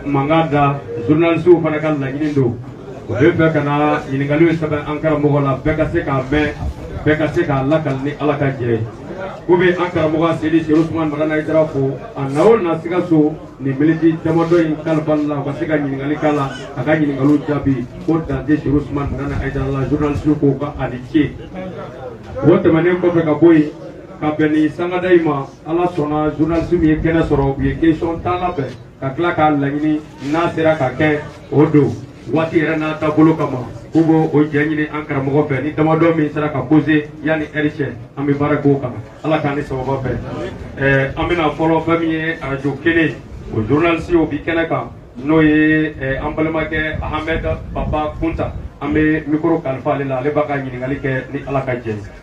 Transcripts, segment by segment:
mankan da journalisiw fana ka laɲini don u bɛ fɛ ka na ɲininkaliw sɛbɛn an karamɔgɔ la bɛɛ ka se k'a mɛn bɛɛ ka se k'a lakali ni ala ka jɛ ye ko bɛ an karamɔgɔ aseyidi serifu usumani madani hayidara fo a na o n'a se ka sɔn nin miniti damadɔ in kalifali la u ka se ka ɲininkali k'a la a ka ɲininkaliw jaabi ko dante serifu usumani madani hayidara la journalisiw k'o ka ani ce o tɛmɛnen kɔfɛ ka bɔ yen ka bɛn ni sangada in ma ala sɔnna journaliste min ye kɛnɛ sɔrɔ u ye question tan labɛn ka tila k'a laɲini n'a sera ka kɛ o don waati yɛrɛ n'a taabolo kama k'u b'o o jɛ ɲini an karamɔgɔ fɛ ni damadɔ min sera ka pose yanni ɛri cɛ an bɛ baara k'o kan ala k'an ni sababa bɛn ɛɛ an bɛna fɔlɔ fɛn min ye arajo kelen o journaliste o bi kɛnɛ kan n'o ye ɛɛ an balimakɛ ahamɛd papa kunta an bɛ mikoro kalifa ale la ale b'a ka ɲininkali kɛ ni ala ka jɛ ye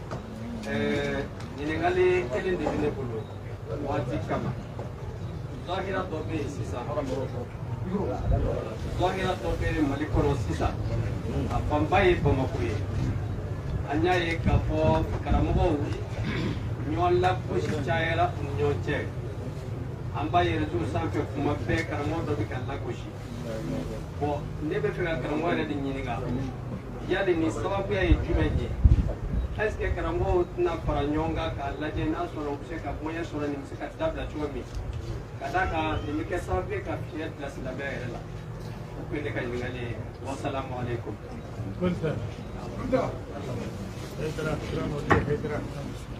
ɲininkali kelen de bɛ ne bolo waati kama zahira dɔ bɛ yen sisan zahira dɔ bɛ yen mali kɔnɔ sisan a fanba ye bamakɔ ye an y'a ye k'a fɔ karamɔgɔw ɲɔgɔn lagosi cayara u ni ɲɔgɔn cɛ an b'a ye reseau sanfɛ kuma bɛɛ karamɔgɔ dɔ bɛ ka lagosi bon ne bɛ fɛ ka karamɔgɔ yɛrɛ de ɲininka yali nin sababuya ye jumɛn ye est ce que karamɔgɔw tɛna fara ɲɔgɔn kan k'a lajɛ n'a sɔrɔ u bɛ se ka moyen sɔrɔ nin bɛ se ka dabila cogo min ka d'a kan nin bɛ kɛ sababu ye ka fiɲɛ bila silamɛya yɛrɛ la o tun ye ne ka ɲininkali ye wasalamu aleykum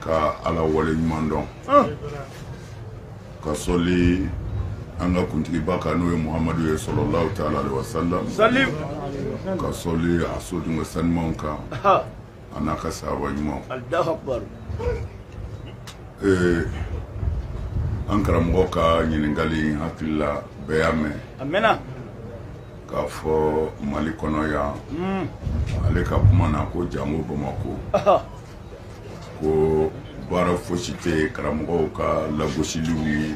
ka ala waleɲumandɔn ka sɔli an ka kuntigiba kan n'o ye muhamadu ye sallallahu taala aleyhi wasalam ka sɔli a so dungo sanimanw kan a n'a ka sahaba ɲumanw an karamɔgɔ ka ɲininkali n hakili la bɛɛ y'a mɛn k'a fɔ mali kɔnɔ yan hmm. ale ka kuma na ko jango bamakɔ ko baara fosi tɛ karamɔgɔw ka lagosiliw ni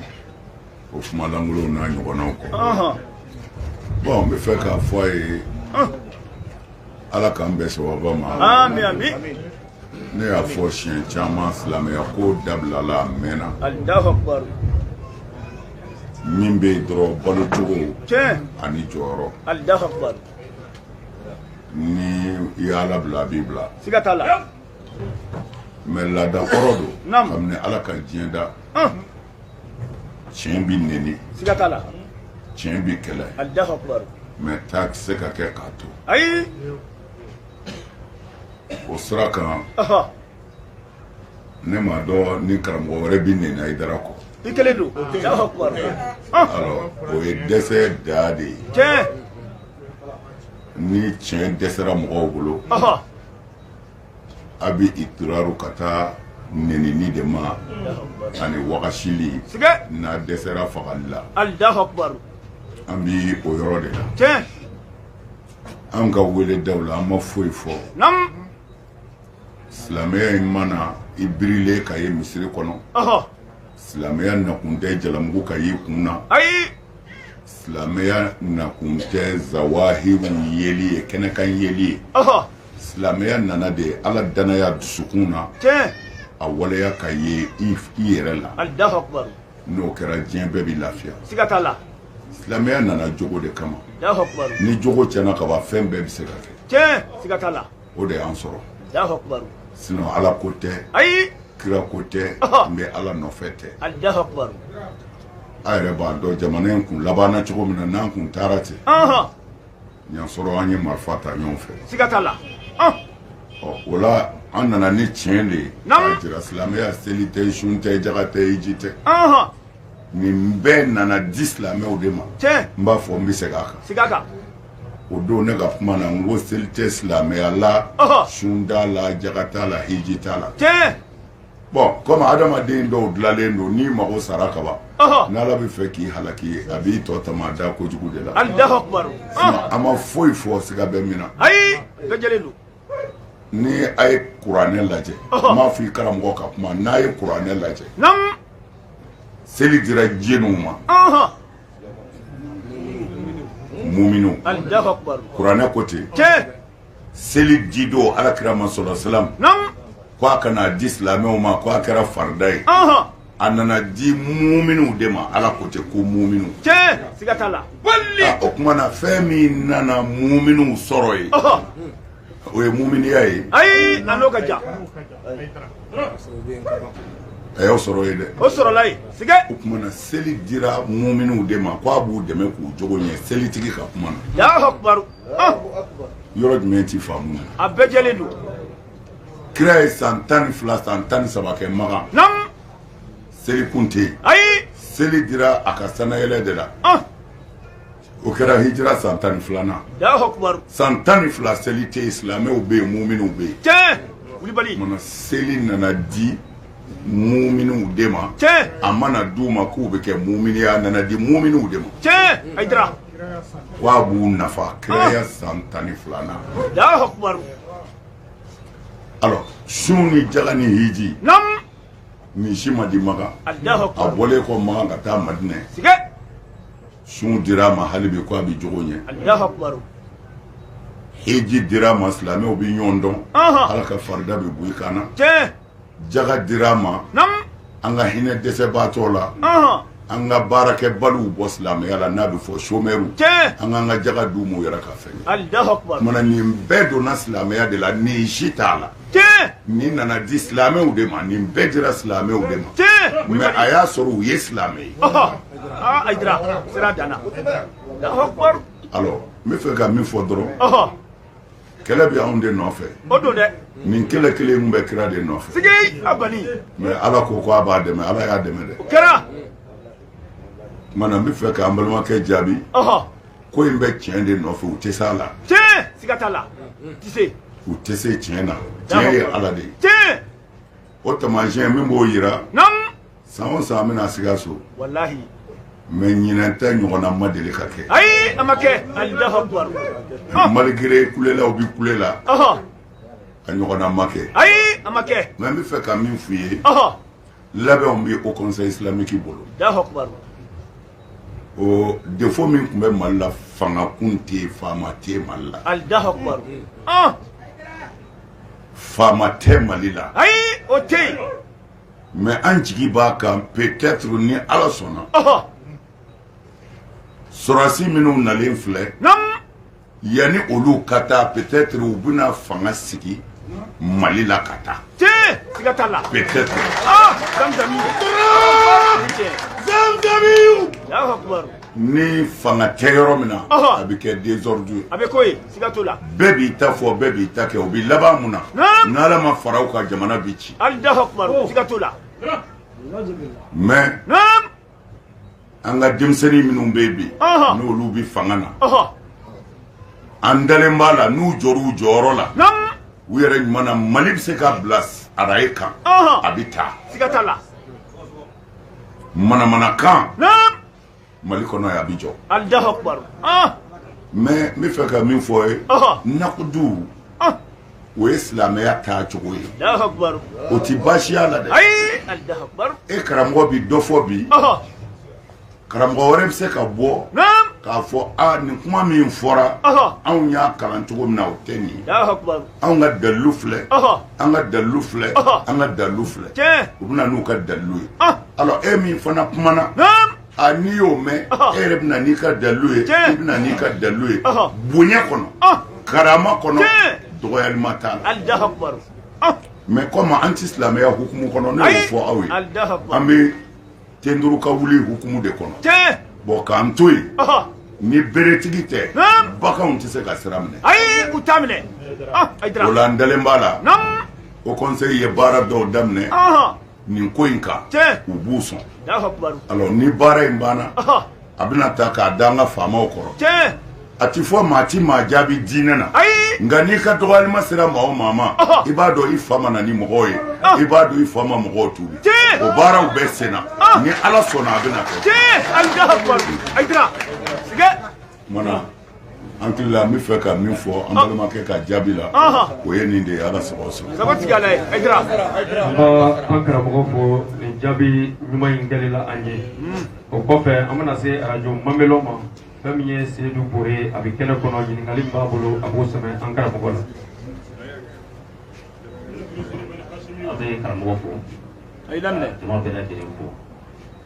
o kumalankolonw n'a ɲɔgɔnnaw kɔ bon n bɛ fɛ k'a fɔ a ye ala k'an bɛn sababa ma ne y'a fɔ siɲɛ caman silamɛya ko dabilala a mɛnna min bɛ yen dɔrɔn balo cogo ani jɔyɔrɔ ni i y'a labila a b'i bila siga t'a la mɛ laada kɔrɔ don Naam. kabini ala ka diɲɛ da Hum, tiɲɛ bi neni siga t'a la tiɲɛ bi kɛlɛ allahu akbar mɛ taa tɛ se ka kɛ k'a to ayi o sira kan ɔhɔ ne m'a dɔn ni karamɔgɔ wɛrɛ bɛ neni ayidara kɔ i kelen don alors o ye dɛsɛ da de ye tiɲɛ ni tiɲɛ dɛsɛra mɔgɔw bolo a bɛ ituraru ka taa nenini de ma ani wagasili n'a dɛsɛra fagali la an bɛ o yɔrɔ de la tiɲɛ an ka weledaw la an ma foyi fɔ silamɛya in ma na i birilen ka ye misiri kɔnɔ silamɛya nakun tɛ jalamugu ka y'i kun na ayi silamɛya nakun tɛ zawahiru yeli ye kɛnɛkan yeli ye silamɛya nana de ye ala dannaya dusukun na a waleya ka ye i yɛrɛ la n'o kɛra diɲɛ bɛɛ bɛ lafiya siga t'a la silamɛya nana jogo de kama ni jogo tiɲɛna ka ban fɛn bɛɛ bɛ se ka kɛ siga t'a la o de y'an sɔrɔ sinon ala ko tɛ ayi kira ko tɛ n bɛ ala nɔfɛ tɛ a yɛrɛ b'a dɔn jamana in kun labanna cogo min na n'an kun taara ten y'a sɔrɔ an ye marifa ta ɲɔgɔn fɛ o la an nana nin tiɲɛ de jira silamɛya seli tɛ sun tɛ jaga tɛ hiji tɛ nin bɛɛ nana di silamɛw de ma n b'a fɔ n bɛ segin a kan o don ne ka kuma na n ko seli tɛ silamɛya la sun t'a la jaka t'a la hiji t'a la bɔn kɔmi adamaden dɔw dilanlen don n'i mago sara kaban n' ala bɛ fɛ k'i halaki ye a b'i tɔ tama da kojugu de la an ma foyi fɔ siga bɛ min na ni a ye kuranɛ lajɛ n b'a fɔ i karamɔgɔ ka kuma n'a ye kuranɛ lajɛ seli dira jɔniw ma muminuw kuranɛ ko ten seli di don ala kira ma sɔlɔ salam ko a kana di silamɛw ma ko a kɛra farida ye a nana di muminuw de ma ala ko ten ko muminuw tiɲɛ siga t'a la bali ah, o tuma na fɛn min nana muminuw sɔrɔ yen o ye muminiya ye ayi a n'o ka jan a y'o sɔrɔ yen dɛ o sɔrɔla yen siga o tuma na seli dira muminuw de ma ko a b'u dɛmɛ k'u jogo ɲɛ selitigi ka kuma na alahu akubaru ah. yɔrɔ jumɛn tɛ faamu a bɛɛ jɛlen don kira ye san tan ni fila san tan ni saba kɛ makan seli kun tɛ yen ayi seli dira a ka sannayɛlɛn de la ah. o kɛra hijira san tan ni filanan san tan ni fila seli tɛ yen silamɛw bɛ yen muminuw bɛ yen tiɲɛ kulibali mana seli nana di muminuw de ma tiɲɛ a ma na di u ma k'u bɛ kɛ muminu ye a nana di muminuw de ma tiɲɛ ayidara k'a b'u nafa kiraya ah. san tan ni filanan alors sun ni jaga ni hiji nam nin si ma di maga a bɔlen kɔ maga ka taa madinɛ sun dira a ma hali bi ko a bɛ jogo ɲɛ hiji dira a ma silamɛw bɛ ɲɔgɔn dɔn ala ka farida bɛ bɔ i kan na jaga dira an ma an ka hinɛ dɛsɛbaatɔ la an ka baarakɛbaliw bɔ silamɛya la n'a bɛ fɔ somɛriw an k'an ka jaga d'u ma u yɛrɛ ka fɛn kɛ kumana nin bɛɛ donna silamɛya de la nin si t'a la nin nana di silamɛw de ma nin bɛɛ dira silamɛw de ma mais a y'a sɔrɔ u ye silamɛ ye alors n bɛ fɛ ka min fɔ dɔrɔn kɛlɛ bɛ anw de nɔfɛ o don dɛ nin kɛlɛ kelen in bɛ kira de nɔfɛ sigi a kɔni mais ala ko ko a b'a dɛmɛ ala y'a dɛmɛ dɛ o kɛra tuma na n bɛ fɛ k'an balimakɛ jaabi ɔhɔ ko in bɛ tiɲɛ de nɔfɛ u tɛ se a la tiɲɛ siga t'a la ti se u tɛ se tiɲɛ na tiɲɛ ye ala de ye tiɲɛ O tamasiɲɛ min b'o jira san o san n bɛ na Sikaso mais ɲinan ta ɲɔgɔnna ma deli ka kɛ ayi an kɛ malgré kulela u bɛ kulela k'a ɲɔgɔnna ma kɛ ayi an kɛ mais n bɛ fɛ ka min f' i ye labɛn bɛ haut conseil islamique bolo ɔ défaut min tun bɛ mali la fanga tun tɛ faama tɛ mali la Faama tɛ mali la ayi o tɛ yen mais an jigi b'a kan peut-être ni ala sɔnna sɔrɔdasi minnu nalen filɛ yan ni olu ka taa peut-être u bɛna fanga sigi mali la ka taa ni fanga tɛ yɔrɔ min na a bɛ kɛ désordre ye a bɛ ko siga t'o la bɛɛ b'i ta fɔ bɛɛ b'i ta kɛ o bɛ laban mun na n'ala ma fara u kan jamana bɛ ci ali da siga t'o la mais an ka denmisɛnnin minnu bɛ yen bi n'olu bɛ fanga na an dalen b'a la n'u jɔra u jɔyɔrɔ la u yɛrɛ ɲuman na mali bɛ se ka bila arayi kan a bɛ taa manamanakan mali kɔnɔ yan a bi jɔ alahu akubaru ah! mais n bɛ fɛ ka min fɔ i ye nakudu ah! o ye silamɛya taa cogo ye o tɛ baasi ye a la dɛ e karamɔgɔ bi dɔ fɔ bi karamɔgɔ wɛrɛ bɛ se ka bɔ k'a fɔ a nin kuma min fɔra anw y'a kalan cogo min na o tɛ nin ye anw ka dalilu filɛ an ka dalu filɛ an ka dalu filɛ u bɛna n'u ka dalu ye alors e min fana kumana a n'i y'o mɛn e yɛrɛ bɛna n'i ka dalu ye i bɛna n'i ka dalu ye bonya kɔnɔ karama kɔnɔ dɔgɔyalima t'a la mɛ kɔmi an tɛ silamɛya hukumu kɔnɔ ne y'o fɔ aw ye an bɛ ten turu ka wuli hukumu de kɔnɔ tiɲɛ bɔn k'an to yen ni beretigi tɛ baganw tɛ se ka sira minɛ ayi u t'a minɛ ah, o la n dalen b'a la o kɔnsɛyi ye baara dɔw daminɛ nin ko in kan u b'u sɔn alors ni baara in banna a bɛna ta k'a da an ka faamaw kɔrɔ tiɲɛ a ti fɔ maa ti maa jaabi diinɛ na ayi nka n'i ka dɔgɔyalima sera maa o maa ma i b'a dɔn i fa ma na ni mɔgɔw ye i b'a dɔn i fa ma mɔgɔw tuubi tiɲɛ o baaraw bɛɛ senna ni ala sɔnna a bɛna kɛ tiɲɛ ayidara ayidara sigɛ kumana An hakili la an b'a fɛ ka min fɔ an balimakɛ ka jaabi la o ye nin de ye ala sababu sɔrɔ an karamɔgɔ fo nin jaabi ɲuman in kɛli la an ye o kɔfɛ an bɛna se arajo lamɛnna ma fɛn min ye sedu bore ye a bɛ kɛnɛ kɔnɔ ɲininkali min b'a bolo a b'o sɛmɛ an karamɔgɔ la an bɛ karamɔgɔ fo bɛ fo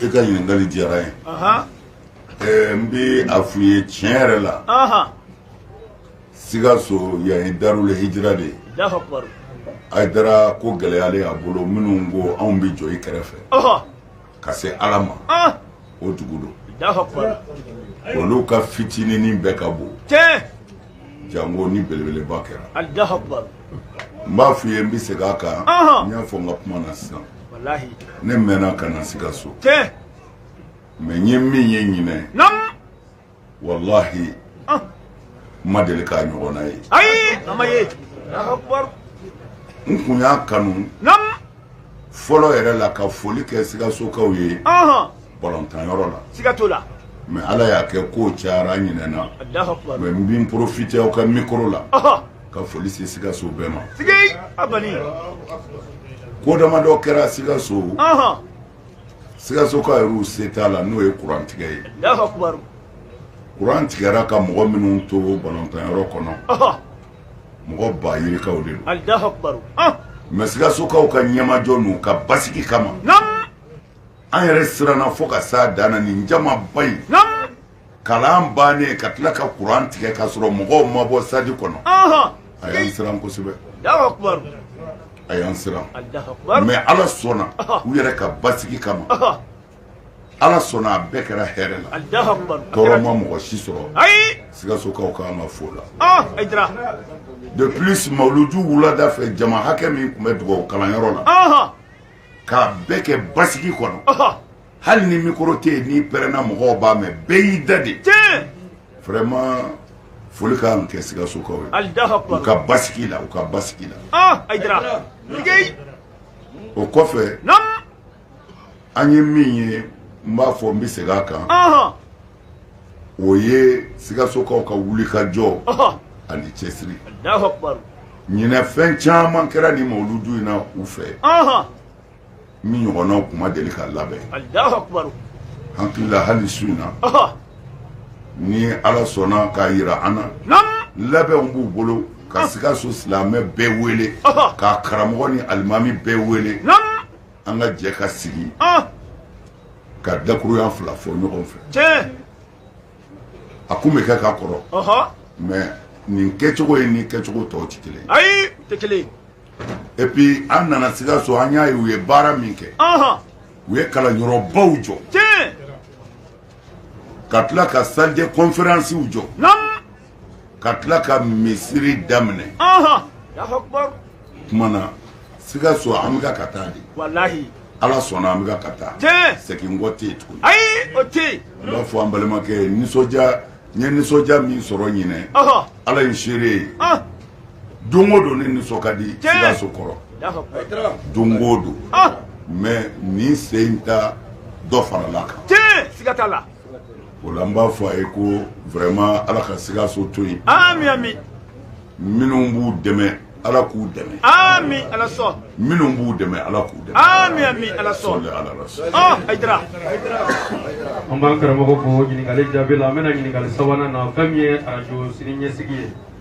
e ka ɲininkali diyara ye ɛɛ n bɛ a f'u ye tiɲɛ yɛrɛ la sikaso yan ye darul hijira de ye ayidara ko gɛlɛyalen y'a bolo minnu ko anw bɛ jɔ i kɛrɛfɛ ka se ala ma o dugu don olu ka fitininin bɛɛ ka bon jango ni belebeleba kɛra n b'a f'u ye n bɛ segin a kan n y'a fɔ n ka kuma na sisan walahi ne mɛnna ka na sikaso tiɲɛ mɛ n ye min ye ɲinɛ naamu walahi ah. n ma deli k'a ɲɔgɔnna ye ayi a ma ye n tun y'a kanu naamu fɔlɔ yɛrɛ la ka foli kɛ sikasokaw ye balɔntanyɔrɔ la siga t'o la mɛ ala y'a kɛ kow cayara n ɲinɛna mɛ n bin porofite aw ka mikoro la ka foli se sikaso bɛɛ ma sigi a bani ko dama dɔ kɛra sikaso sikasokaw yɛrɛw se t'a la n'o ye kuran tigɛ ye kuran tigɛra ka mɔgɔ minnu to balɔntanyɔrɔ kɔnɔ mɔgɔ ba yirikaw de don mɛ sikasokaw ka ɲɛmajɔ n'u ka basigi kama an yɛrɛ siranna fo ka s'a dan na nin jamaba in kalan bannen ka tila ka kuran tigɛ k'a sɔrɔ mɔgɔw ma bɔ stade kɔnɔ a y'an siran kosɛbɛ a y'an siran mɛ ala sɔnna u yɛrɛ ka basigi kama ala sɔnna a bɛɛ kɛra hɛrɛ la tɔɔrɔ ma mɔgɔ si sɔrɔ sikasokaw ka ma fo la de plus mawuludu wulada fɛ jama hakɛ min tun bɛ dugawu kalanyɔrɔ la k'a bɛɛ kɛ basigi kɔnɔ hali ni mikoro tɛ yen n'i pɛrɛnna mɔgɔw b'a mɛn bɛɛ y'i da de vraiment foli ka kan kɛ sikasokaw ye u ka basigi la u ka basigi la ah, o kɔfɛ an ye min ye n b'a fɔ n bɛ segin a kan o ye sikasokaw ka wulikajɔ ani cɛsiri ɲinɛ fɛn caman kɛra nin mawuludu in na u fɛ min ɲɔgɔnnaw kun ma deli ka labɛn alahu akubaru hakili la hali su in na ɔhɔ ni ala sɔnna k'a yira an na nam labɛnw b'u bolo ka sikaso silamɛ bɛɛ wele Ɔhɔ. k'a karamɔgɔ ni alimami bɛɛ wele nam an ka jɛ ka sigi ɔn ka dakuruɲa fila fɔ ɲɔgɔn fɛ tiɲɛ a kun bɛ kɛ ka kɔrɔ ɔhɔ mɛ nin kɛcogo ye ni kɛcogo tɔw tɛ kelen ye ayi tɛ kelen ye et puis an nana sikaso an y'a ye u ye baara min kɛ u ye kalanyɔrɔbaw jɔ ka tila ka salle de conférencew jɔ ka tila ka misiri daminɛ tuma na sikaso an bɛ ka taa de ala sɔnna an bɛ ka taa segin kɔ tɛ yen tuguni ayi o tɛ yen n b'a fɔ an balimakɛ ye nisɔndiya n ye nisɔndiya min sɔrɔ ɲinɛ ala ye seere ye don o don ne nisɔn ka di sikaso kɔrɔ don o don mɛ nin sen in ta dɔ farala a kan siga t'a la o la n b'a fɔ a ye ko vraiment ala ka sikaso to yen ami ami minnu b'u dɛmɛ ala k'u dɛmɛ ami ala sɔn minnu b'u dɛmɛ ala k'u dɛmɛ ami ami ala sɔn sɔli ala rasul ɔ ayidara an b'an karamɔgɔ fo ɲininkali jaabi la an bɛ na ɲininkali sabanan na fɛn min ye arajo sini ɲɛsigi ye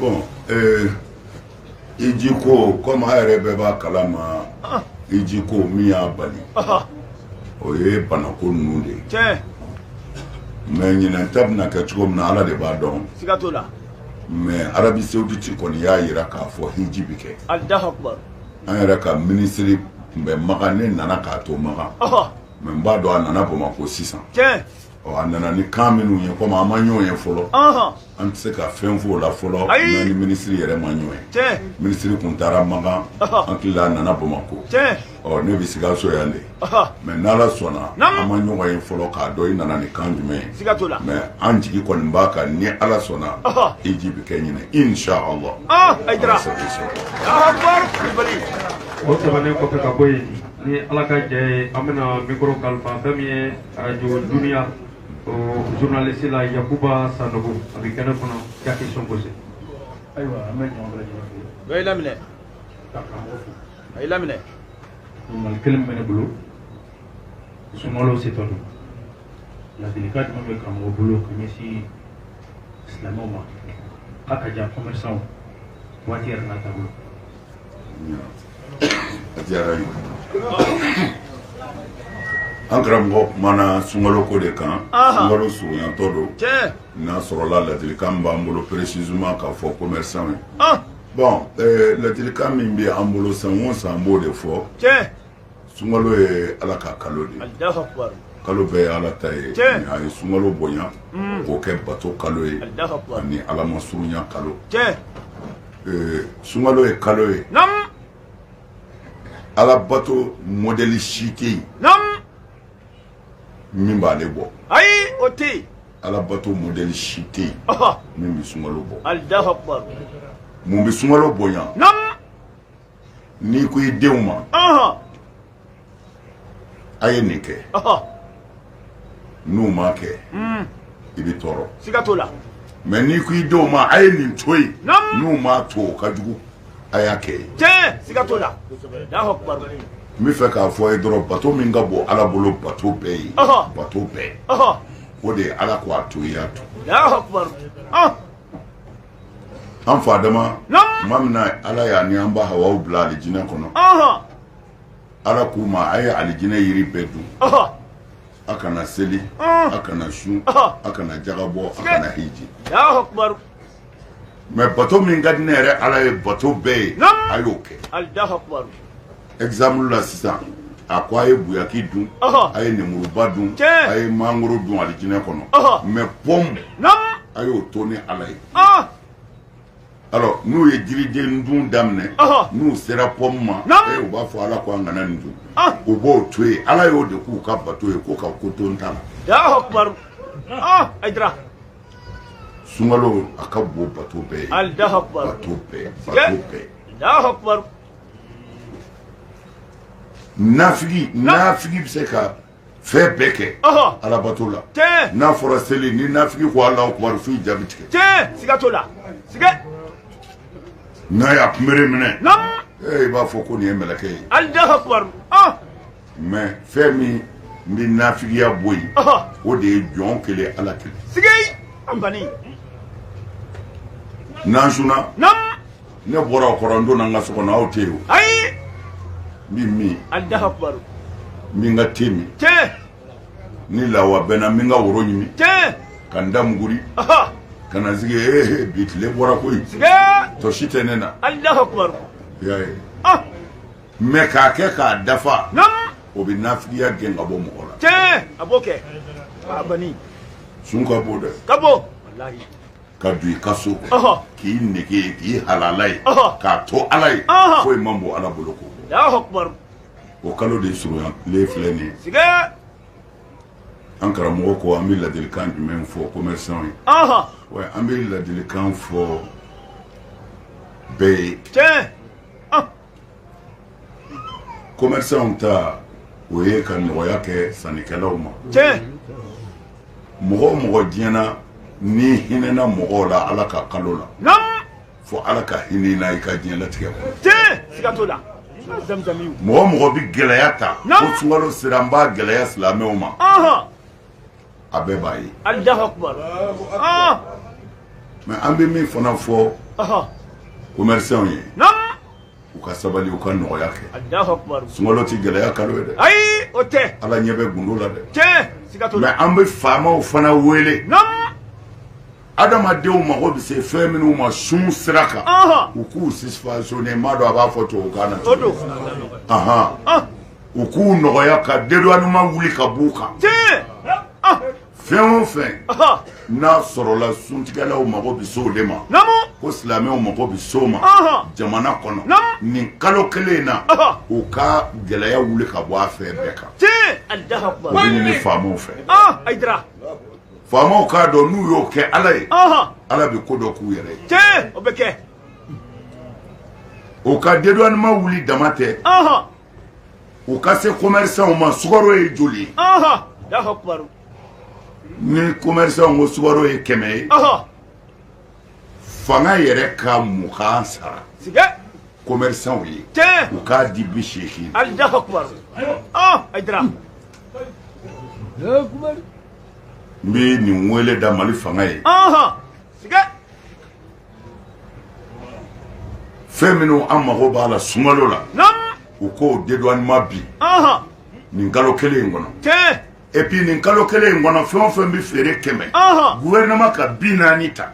bon euh, hiji ko komi a yɛrɛ bɛɛ b'a kalama ah. hiji ko min y'a bali ah. o ye banako ninnu de ye mɛ ɲinɛn ta bɛna kɛ cogo min na ala de b'a dɔn siga t'o la mɛ arabi sawuditi kɔni y'a yira k'a fɔ hiji bɛ kɛ an yɛrɛ ka minisiri tun bɛ maka ne nana k'a to maka mɛ n b'a dɔn a nana bamakɔ sisan ɔ a nana ni kan minnu ye komi an ma ɲɔgɔn ye fɔlɔ an tɛ se ka fɛn f'o la fɔlɔ n'an ni minisiri yɛrɛ ma ɲɔgɔn ye minisiri kun taara makan an hakili a nana bamakɔ ɔ ne bɛ sikaso yan de mɛ n'ala sɔnna an ma ɲɔgɔn ye fɔlɔ k'a dɔn i nana ni kan jumɛn ye mɛ an jigi kɔni b'a kan ni ala sɔnna hiji bɛ kɛ ɲinan inshallah o tɛmɛnen kɔfɛ ka bɔ yen ni ala ka jɛ ye an bɛna mikoro kalifa fɛn min ye radio dunia o journaliste la yakuba sanogo a bɛ kɛnɛ kɔnɔ ka question posé ayiwa an bɛ ɲɔgɔn bɛɛ lajɛlen fo dɔ y'i laminɛ ka karamɔgɔ fo a y'i laminɛ ɲininkali kelen bɛ ne bolo sunkalo setɔ don ladilikan jumɛn bɛ karamɔgɔ bolo ka ɲɛsin silamɛw ma k'a ka jan commerçant waati yɛrɛ n'a taabolo diyara ye an karamɔgɔ kumana sunkalo ko de kan sunkalo surunyatɔ don n'a sɔrɔla ladilikan b'an bolo précisément k'a fɔ commerçant ye bon eh, ladilikan min bɛ an bolo san o san an b'o de fɔ sunkalo ye ala ka kalo de kalo bɛɛ ye ala ta ye a ye sunkalo bonya mm. k'o kɛ bato kalo ye ani ala ma surunya kalo Ee sunkalo ye kalo ye ala bato modèle si tɛ yen min b'aale bɔ ayi o tɛ yen ala bato modèle si tɛ yen min bɛ sunkalo bɔ mun bɛ sunkalo bonya n'i ko i denw ma a ye nin kɛ n'u ma kɛ hmm. i bɛ tɔɔrɔ siga t'o la mɛ n'i ko i denw ma a ye nin to yen n'u ma to o ka jugu a y'a kɛ ye tiɲɛ siga t'o la n b'a fɛ k'a fɔ a ye dɔrɔn bato min ka bon ala bolo bato bɛɛ ye bato bɛɛ o de ye ala ko a to i y'a to an fa adama tuma min na ala y'a ni an ba hawa bila alijinɛ kɔnɔ ala k'u ma a ye alijinɛ yiri bɛɛ dun a kana seli a kana sun a kana jaka bɔ a kana hiji mɛ bato min ka di ne yɛrɛ ala ye bato bɛɛ ye a y'o kɛ exemple la sisan a ko a ye buyaki dun a ye nemuruba dun a ye mangoro dun alijinɛ kɔnɔ mais pɔmu a y'o to ne ala ye alors n'u ye jiriden dun daminɛ n'u sera pɔmu ma u b'a fɔ ala ko an kana nin dun u b'o to yen ala y'o de k'u ka bato ye ko ka ko to n ta la sunkalo a ka bon bato bɛɛ ye bato bɛɛ bato bɛɛ nafigi nafigi bɛ se ka fɛn bɛɛ kɛ alabato la n'a fɔra seli ni nafigi ko Allahu Akbar f jaabi tiɲɛ siga t'o la n'a y'a kunbere minɛ i b'a fɔ ko nin ye mɛlɛkɛ ye mɛ fɛn min bɛ nafigiya bɔ yen o de ye jɔn kelen ala kelen n'an sunna ne bɔra aw kɔrɔ n donna n ka so kɔnɔ aw tɛ yen n bɛ min min ka te min ni lawa bɛnna min ka woro ɲimi ka n da muguri ka na sigi ee bi tile bɔra koyi fosi tɛ ne na y'a ye Mɛ k'a kɛ k'a dafa o bɛ nafigiya gɛn ka bɔ mɔgɔ la a b'o kɛ sun ka bon dɛ ka bɔ ka don i ka so k'i nɛgɛge k'i hala ye k'a to ala ye ko i ma bɔ ala bolo ko o kalo de surunya tile filɛ nin ye an karamɔgɔ ko an bɛ ladilikan jumɛn fɔ commerçants ye wa an bɛ ladilikan fɔ bɛɛ ye commerçants ta o ye ka nɔgɔya kɛ sannikɛlaw ma tiɲɛ mɔgɔ o mɔgɔ diɲɛ na n'i hinɛna mɔgɔw la ala ka kalo la naamu fo ala ka hinɛ i na i ka diɲɛlatigɛ kɔnɔ tiɲɛ siga t'o la mɔgɔ o mɔgɔ bɛ gɛlɛya ta ko sunkalo sera n b'a gɛlɛya silamɛw ma a bɛɛ b'a ye ah! mɛ an bɛ min fana fɔ commerçants ye u ka sabali u ka nɔgɔya kɛ sunkalo tɛ gɛlɛya kalo ye dɛ ayi o tɛ ala ɲɛ bɛ gundo la dɛ tiɲɛ siga t'o la mɛ an bɛ faamaw fana wele adamadenw mago bɛ se fɛn minnu ma sun sira kan u k'u subventionner n m'a dɔn a b'a fɔ tubabukan na o don u k'u nɔgɔya ka dédouanement wuli ka b'u kan ah. fɛn o fɛn n'a sɔrɔla suntigɛlaw mago bɛ se o de ma ko silamɛw mago bɛ se o ma jamana kɔnɔ nin kalo kelen in na u ka gɛlɛya wuli ka bɔ a fɛn bɛɛ kan o bɛ ɲini faamaw fɛ Hayidara faamaw k'a dɔn n'u y'o kɛ ala ye ala bɛ ko dɔ k'u yɛrɛ ye o ka dédouanement wuli dama tɛ u ka se commerçants ma sukaro ye joli ye ɔhɔ Allahu Akbar ni commerçants ko sukaro ye kɛmɛ ye ɔhɔ fanga yɛrɛ ka mugan sara tiɲɛ commerçants ye tiɲɛ u k'a di biseegin Allahu Akbar ɔ Hayidara n bɛ nin wele da mali fanga ye ɔhɔ fɛn minnu an mago b'a la sunkalo la u k'o dédouanement bin nin kalo kelen in kɔnɔ et puis nin kalo kelen in kɔnɔ fɛn o fɛn bɛ feere kɛmɛ gouvernement ka bi naani ta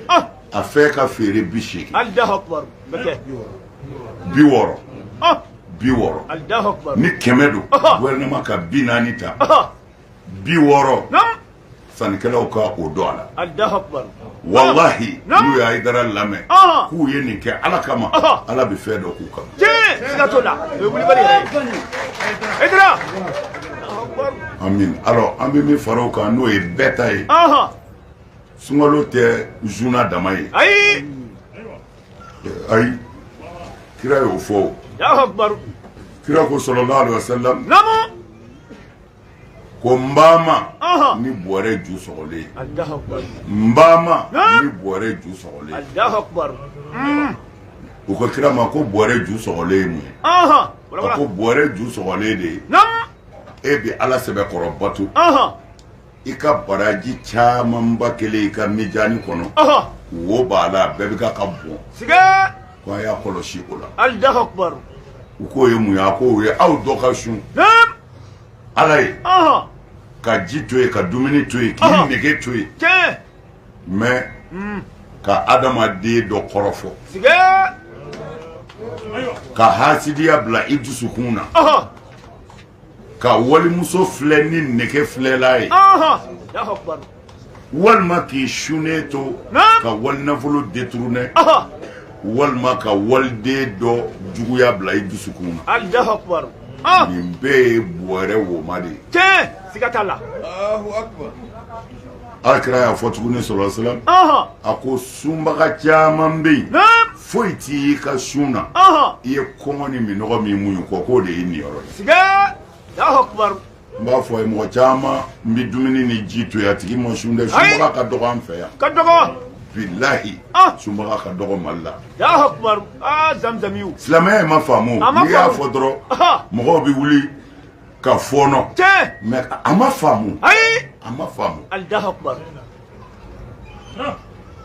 ah. a fɛn ka feere bi seegin bi wɔɔrɔ ah. bi wɔɔrɔ ni kɛmɛ don gouvernement ka bi naani ta ah. bi wɔɔrɔ sannikɛlaw ka o don a la walahi n'u ye Hayidara lamɛn k'u ye nin kɛ ala kama ala bɛ fɛn dɔ k'u kama amin alors an bɛ min fara o kan n'o ye bɛɛ ta ye sunkalo tɛ suna dama ye ayi ayi kira y'o fɔ kira ko sallallahu alaihi wasallam ko n b'aw ma ni bɔrɛ ju sɔgɔlen n b'aw ma ni bɔrɛ ju sɔgɔlen u ko kira ma ko bɔrɛ ju sɔgɔlen ye mun ye a ko bɔrɛ ju sɔgɔlen de ye e bɛ ala sɛbɛkɔrɔ bato i ka baraji camanba kɛlen i ka mijani kɔnɔ wo b'a la bɛɛ bɛ ka ka bɔn ko a y'a kɔlɔsi o la allahu akubar u k'o ye mun ye a ko o ye aw dɔ ka sun naam ala ye ɔhɔn ka ji to yen ka dumuni to yen k'i Ɔhɔn. nege to yen tiɲɛ mais Hmm. ka adamaden dɔ kɔrɔfɔ sige ka hasidiya bila i dusukun na ɔhɔn ka walimuso filɛ ni nege filɛli ye walima k'i sunnen to ka wali nafolo détourner walima ka waliden dɔ juguya bila i dusukun na nin bɛɛ ye bɔrɛ woma de ye Ala kira y'a fɔ tuguni sallallahu alaihi wasallam a ko sunbaga caman bɛ yen foyi t'i ka sun na i ye kɔngɔ ni minnɔgɔ min muɲu kɔ k'o de ye nin yɔrɔ n b'a fɔ ye mɔgɔ caman bɛ dumuni ni ji to yen a tigi ma sun dɛ sunbaga ka dɔgɔ an fɛ yan ka dɔgɔ bilahi sunbaga ka dɔgɔ mali la silamɛya ma faamu n'i y'a fɔ dɔrɔn mɔgɔw bɛ wuli ka fɔɔnɔ mais a ma faamu a ma faamu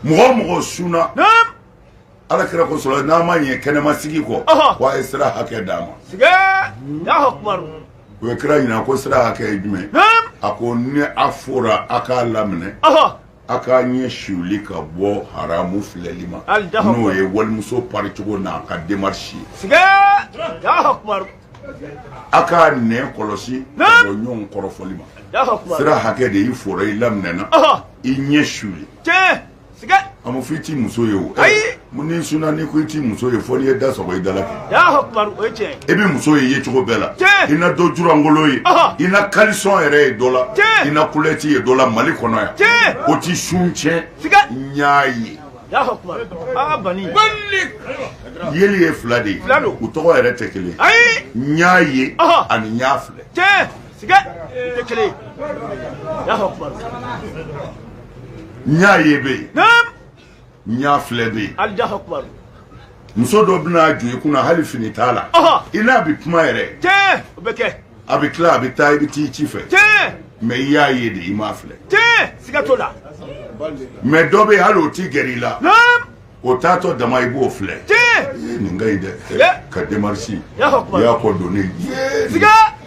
mɔgɔ o mɔgɔ sunna ala kira ko sallallahu n'a ma ɲɛ kɛnɛma sigi kɔ ko a ye sira hakɛ d'a ma u ye kira ɲininka ko sira hakɛ ye jumɛn a ko ni a fora a k'a laminɛ A k'a ɲɛ suli ka bɔ haramu filɛli ma n'o ye walimuso pari cogo n'a ka demarisi a k'a nɛn kɔlɔsi ɲɔgɔn kɔrɔfɔli ma sira hakɛ de y'i fora i laminɛna i ɲɛ suli a ma fɔ i tɛ muso ye o mun n'i sunna ni ko i tɛ muso ye fo n'i ye da sɔgɔ i da la kɛ alahu akubaru o ye tiɲɛ ye i bɛ muso ye ye cogo bɛɛ la Tiɲɛ. i na dɔ ju lankolon ye Ɔhɔ. i na kalisɔn yɛrɛ ye dɔ la Tiɲɛ. i na kulɔti ye dɔ la mali kɔnɔ yan Tiɲɛ. o ti sun tiɲɛ Siga. n y'a ye alahu akubaru aa bani yeli ye fila de ye Fila don. u tɔgɔ yɛrɛ tɛ kelen ye ayi n y'a ye Ɔhɔ. ani n y'a filɛ tiɲɛ siga o tɛ kelen ye alahu akubaru n y'a ye bɛ yen naam n y'a filɛ bɛ yen alahu akubaru muso dɔ bɛna jɔ i kunna hali fini t'a la Ɔhɔ. i n'a bɛ kuma yɛrɛ tiɲɛ o bɛ kɛ a bɛ tila a bɛ taa i bɛ t'i ci fɛ tiɲɛ mɛ i y'a ye de i m'a filɛ tiɲɛ siga t'o la mɛ dɔ bɛ yen hali o tɛ gɛrɛ i la naam o taatɔ dama i b'o filɛ tiɲɛ nin ka ɲi dɛ Ye. ka demarisi Alahu akubaru. y'a kɔ don ne ye siga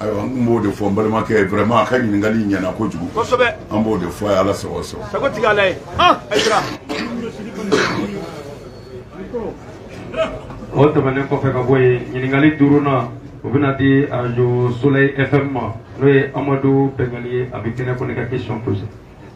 ayiwa an tun b'o de fɔ n balimakɛ ye vraiment a ka ɲininkali in ɲɛna kojugu kosɛbɛ an b'o de fɔ a ye ala sago sɔrɔ sago tigi y'ala ye han ayisira o tɛmɛnen kɔfɛ ka bɔ yen ɲininkali duurunan o bɛna di arajo soleil fm ma n'o ye amadu bɛngali ye a bɛ kɛnɛ ko ne ka question posé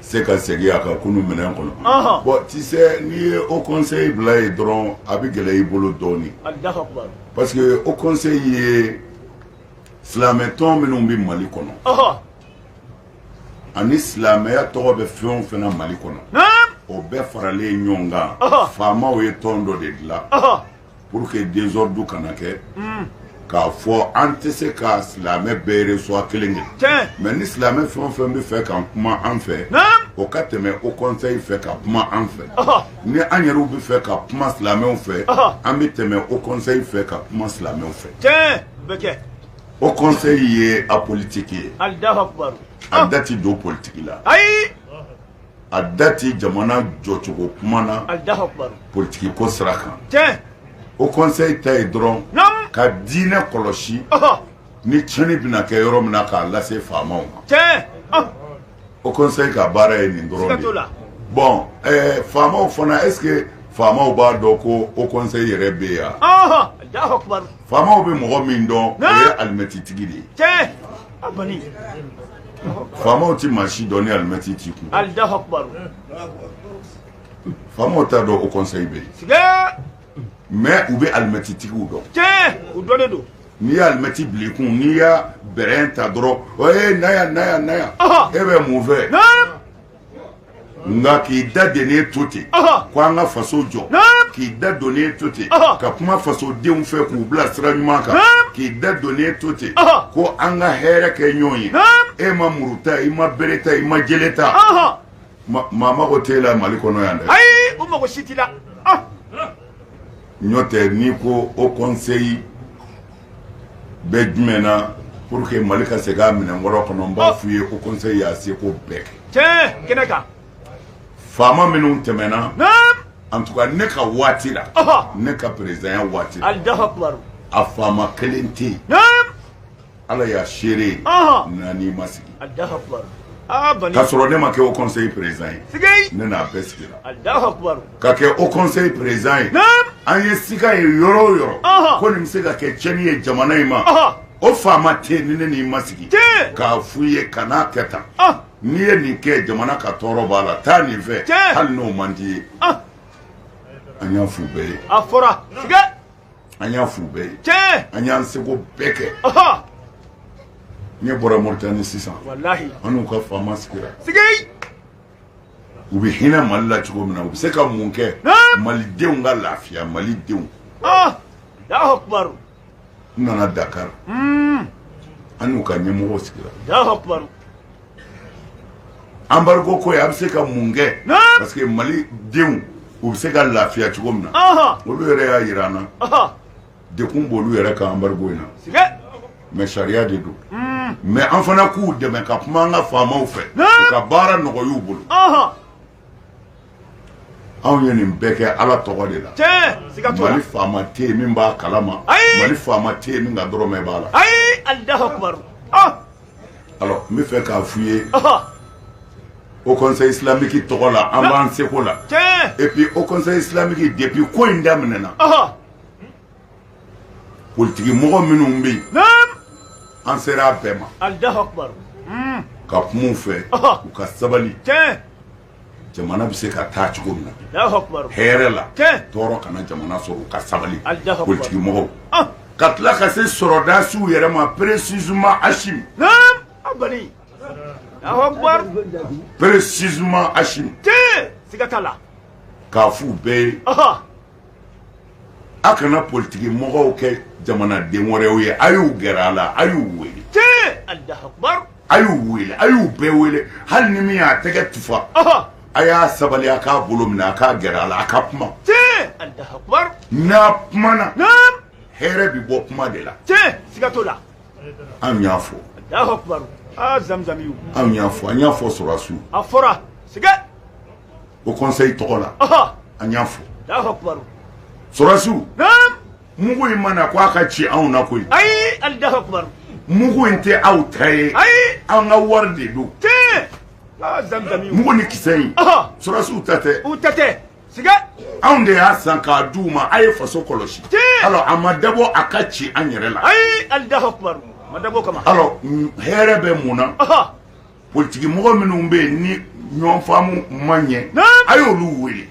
se ka segin a ka kunu minɛn kɔnɔ bon tu sais n'i ye haut conseil bila yen dɔrɔn a bɛ gɛlɛya i bolo dɔɔnin parce que haut conseil ye silamɛ tɔn minnu bɛ mali kɔnɔ ani silamɛya tɔgɔ bɛ fɛn o fɛn na mali kɔnɔ o bɛɛ faralen ɲɔgɔn kan faamaw ye tɔn dɔ de dilan Pour que désordre kana kɛ k'a fɔ an tɛ se ka silamɛ bɛɛ sɔrɔ kelen kelen mɛ ni silamɛ fɛn o fɛn bɛ fɛ ka kuma an fɛ o ka tɛmɛ haut conseil fɛ ka kuma an fɛ ni an yɛrɛ bɛ fɛ ka kuma silamɛw fɛ an bɛ tɛmɛ haut conseil fɛ ka kuma silamɛw fɛ haut conseil ye apolitique ye a da tɛ don politigi la a da tɛ jamana jɔcogo kuma na politigi ko sira kan haut conseil ta ye dɔrɔn ka diinɛ kɔlɔsi ni tiɲɛni bɛna kɛ yɔrɔ min na k'a lase faamaw ma haut conseil ka baara ye nin dɔrɔn ye bon faamaw fana est ce que faamaw b'a dɔn ko haut conseil yɛrɛ bɛ yan faamaw bɛ mɔgɔ min dɔn o ye alimɛtitigi de ye faamaw tɛ maa si dɔn ni alimɛti t'i kun faamaw t'a dɔn haut conseil bɛ yen mais u bɛ alimɛti tigiw dɔn u dɔnnen don n'i y'alimɛti bila i kun n'i y'a brin ta dɔrɔn o ye na yan na yan na yan e bɛ mun fɛ nka k'i da donnen to ten ko an ka faso jɔ k'i da donnen to ten ka kuma fasodenw fɛ k'u bila sira ɲuman kan k'i da donnen to ten ko an ka hɛrɛ kɛ ɲɔgɔn ye e ma muru ta i ma bere ta i ma jele ta maa mago t'e la mali kɔnɔ yan dɛ ayi o mago si t'i la n'o tɛ n'i ko haut conseil bɛ jumɛn na pour que mali ka segin a minɛn kɔrɔ kɔnɔ n b'a f'u ye haut conseil y'a seko bɛɛ kɛ tiɲɛ kɛnɛ kan faama minnu tɛmɛna en tout cas ne ka waati la ne ka présidentya waati la allahu akbar a faama kelen tɛ yen ala y'a seere ye n'an n'i ma sigi allahu akbar k'a sɔrɔ ne ma kɛ haut conseil président ye ne n'a bɛɛ sigira allahu akbar Ka kɛ haut conseil président ye an ye siga ye yɔrɔ o yɔrɔ ko nin bɛ se ka kɛ tiɲɛni ye jamana in ma o faama tɛ ni ne n'i ma sigi k'a fɔ i ye kan'a kɛ tan n'i ye nin kɛ jamana ka tɔɔrɔ b'a la taa nin fɛ hali n'o man di i ye an y'a f'u bɛɛ ye a fɔra an y'a f'u bɛɛ ye an y'an seko bɛɛ kɛ ne bɔra moritani sisan an n'u ka faama sigira u bɛ hinɛ mali la cogo min na u bɛ se ka mun kɛ malidenw ka lafiya malidenw ah! n nana dakari hmm. an n'u ka ɲɛmɔgɔw sigira embargo ko ye a bɛ se ka mun kɛ parce que malidenw u bɛ se ka lafiya cogo min na olu yɛrɛ y'a jira an na degun b'olu yɛrɛ kan embargo in na mais sariya de don mais an fana k'u dɛmɛ ka kuma an ka faamaw fɛ ka baara nɔgɔy'u bolo anw ye nin bɛɛ kɛ ala tɔgɔ de la mali faama tɛ yen min b'a kalama mali faama tɛ yen min ka dɔrɔmɛ b'a la n bɛ fɛ k'a f' i ye haut conseil islamique tɔgɔ la an b'an seko la et puis haut conseil islamique depuis ko in daminɛna politigi mɔgɔ minnu bɛ yen an sera a bɛɛ ma hmm. ka kuma u fɛ u ka sabali jamana bɛ se ka taa cogo min na hɛrɛ la tɔɔrɔ kana jamana sɔrɔ u ka sabali politigi mɔgɔw ah. ka tila ka se sɔrɔdasiw yɛrɛ ma précisément Assimi précisément Assimi k'a f'u bɛɛ ye aw kana politigi mɔgɔw kɛ jamanaden wɛrɛw ye a y'u gɛrɛ a la a y'u wele a y'u wele a y'u bɛɛ wele hali ni min y'a tɛgɛ tufa a y'a sabali a k'a bolo minɛ a k'a gɛrɛ a la a ka kuma n'a kumana hɛrɛ bɛ bɔ kuma de la anw y'a fɔ anw y'a fɔ an y'a fɔ sɔrɔdasiw haut conseil tɔgɔ la an y'a fɔ sɔrɔdasiw mugu in ma na ko a ka ci anw na koyi ayi ali mugu in tɛ aw ta ye ayi an ka wari de don mugu ni kisɛ in sɔrɔdasiw ta tɛ u ta tɛ anw de y'a san k'a di u ma a ye faso kɔlɔsi alors a ma dabɔ a ka ci an yɛrɛ la ayi ali dabɔ kama alors hɛrɛ bɛ mun na Politigimɔgɔ minnu bɛ yen ni ɲɔn faamu ma ɲɛ a ye olu wele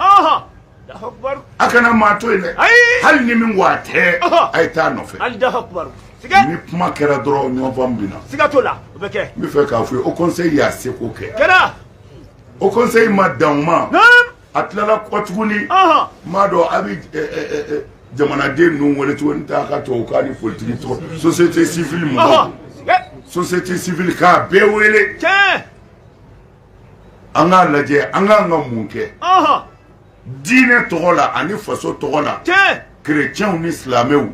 a kana maa to yen dɛ hali ni min a tɛ a ye taa a nɔfɛ ni kuma kɛra dɔrɔn ɲɔnfaamu bɛ na n b'a fɛ k'a fɔ haut conseil y'a seko kɛ haut conseil ma dan o ma a tilala kɔ tuguni m'a dɔn a bɛ jamanaden ninnu wele tuguni ta ka tubabu k'a ni politigi tɔgɔ société civile mɔgɔw société civile k'a bɛɛ wele an k'a lajɛ an kan ka mun kɛ diinɛ tɔgɔ la ani faso tɔgɔ la chrétiens ni silamɛw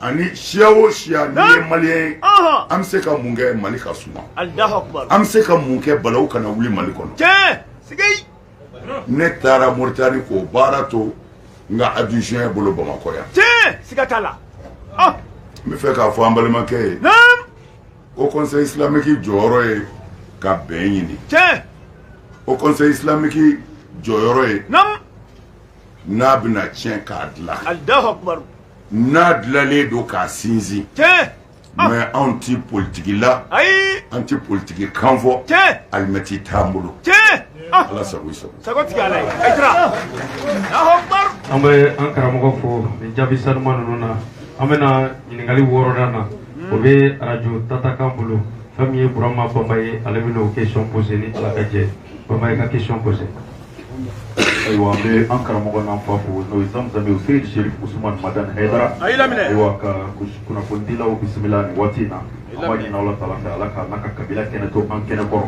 ani siya o siya n'i ye maliyɛn ye an bɛ se ka mun kɛ mali ka suma an bɛ se ka mun kɛ balawu kana wuli mali kɔnɔ ne taara moritani k'o baara to n ka adjoint bolo bamakɔ yan tiɲɛ siga t'a la ah! n b'a fɛ k'a fɔ an balimakɛ ye haut conseil islamique jɔyɔrɔ ye ka bɛn ɲini tiɲɛ haut conseil islamique jɔyɔrɔ ye n'a bɛna tiɲɛ k'a dilan n'a dilalen don k'a sinsin tiɲɛ Mais anw ti politique la. Ayi An ti politique kan fɔ. Tiɲɛ Alimɛti t'an bolo. Tiɲɛ Ala sago i sago. Sago ti kɛ Ala ye. Hɛdara. An bɛ an karamɔgɔ fo nin jaabi sanuma ninnu na an bɛna ɲininkali wɔɔrɔnan na o bɛ arajo tatakan bolo fɛn min ye Burama Bamba ye ale bɛna o question poser ni Ala ka jɛ ye. Bamba, i ka question poser. ayiwa an bɛ an karamɔgɔ n'an fa fo n'o ye zamzami o seyidi serif usumani madan hɛdara ayiwa ka kunnafonidilaw bisimila nin waati in na an b'a ɲini ala taala fɛ ala k'a n'a ka kabila kɛnɛ to an kɛnɛ kɔrɔ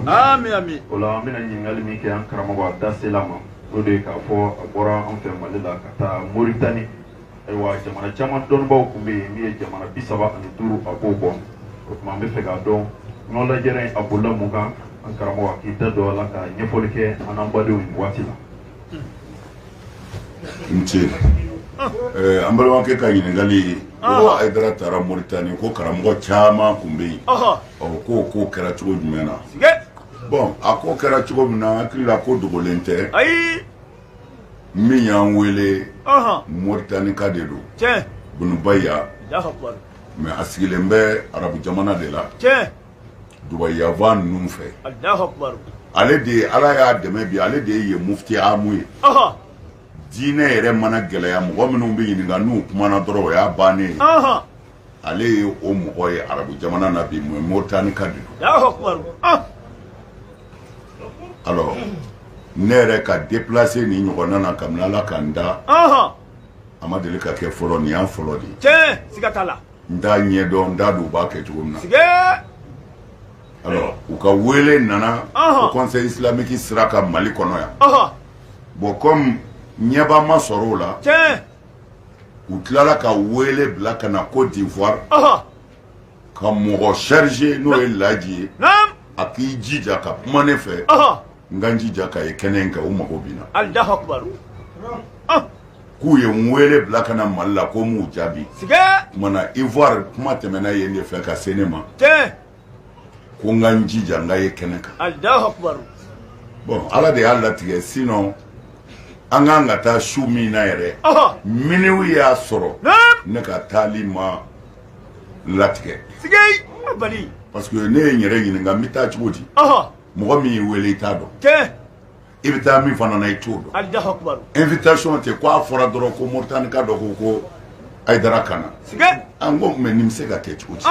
o la an bɛna ɲininkali min kɛ an karamɔgɔ a da sel'a ma o de ye k'a fɔ a bɔra an fɛ mali la ka taa moritani ayiwa jamana caman dɔnnibaaw tun bɛ yen min ye jamana bi saba ani duuru a b'o bɔ o tuma an bɛ fɛ k'a dɔn ɲɔgɔn lajɛrɛ in a bolila mun kan an karamɔgɔ a k'i da don a la ka ɲɛfɔli kɛ an n'an badenw ye nin waati la. n ce eh, an balimakɛ ka ɲininkali ye ko ayidara taara moritani ko karamɔgɔ caman tun bɛ yen ɔ k'o ko kɛra cogo jumɛn na bɔn a ko kɛra cogo min na n hakili la ko dogolen tɛ min y'an wele moritanika de don bun baya mais a sigilen bɛ arabu jamana de la dubayi fan ninnu fɛ ale de ye ala y'a dɛmɛ bi ale de ye mufti amu ye diinɛ yɛrɛ mana gɛlɛya mɔgɔ minnu bɛ ɲininka n'u kumana dɔrɔn o y'a bannen ye ale ye o mɔgɔ ye arabu jamana na bi mun moritanika de don ah! alors ne yɛrɛ ka déplacer nin ɲɔgɔnna na kabini ala ka n da a ma deli ka kɛ fɔlɔ nin y'a fɔlɔ de ye tiɲɛ siga t'a la n t'a ɲɛdɔn n t'a dɔn u b'a kɛ cogo min na sigee alors u ka wele nana haut conseil islamique sira kan mali kɔnɔ yan bon comme ɲɛba ma sɔrɔ o la tiɲɛ u tilala ka wele bila ka na Côte d'Ivoire ka mɔgɔ charger n'o ye Laji ye a k'i jija ka kuma ne fɛ n ka n jija ka ye kɛnɛ in kan u mago bɛ n na k'u ye n wele bila ka na Mali la ko n m'u jaabi kumana Ivoire kuma tɛmɛna yen de fɛ ka se ne ma ko n ka n jija n ka ye kɛnɛ kan bɔn ala de y'a latigɛ sinɔn an kan ka taa su min na yɛrɛ minuit y'a sɔrɔ ne ka taali ma latigɛ parce que ne ye n yɛrɛ ɲininka n bɛ taa cogo di mɔgɔ min y'i wele i t'a dɔn i bɛ taa min fana na i t'o dɔn invitation tɛ ko a fɔra dɔrɔn ko Moritanika dɔ ko ko Ayidara ka na an ko mais nin bɛ se ka kɛ cogo di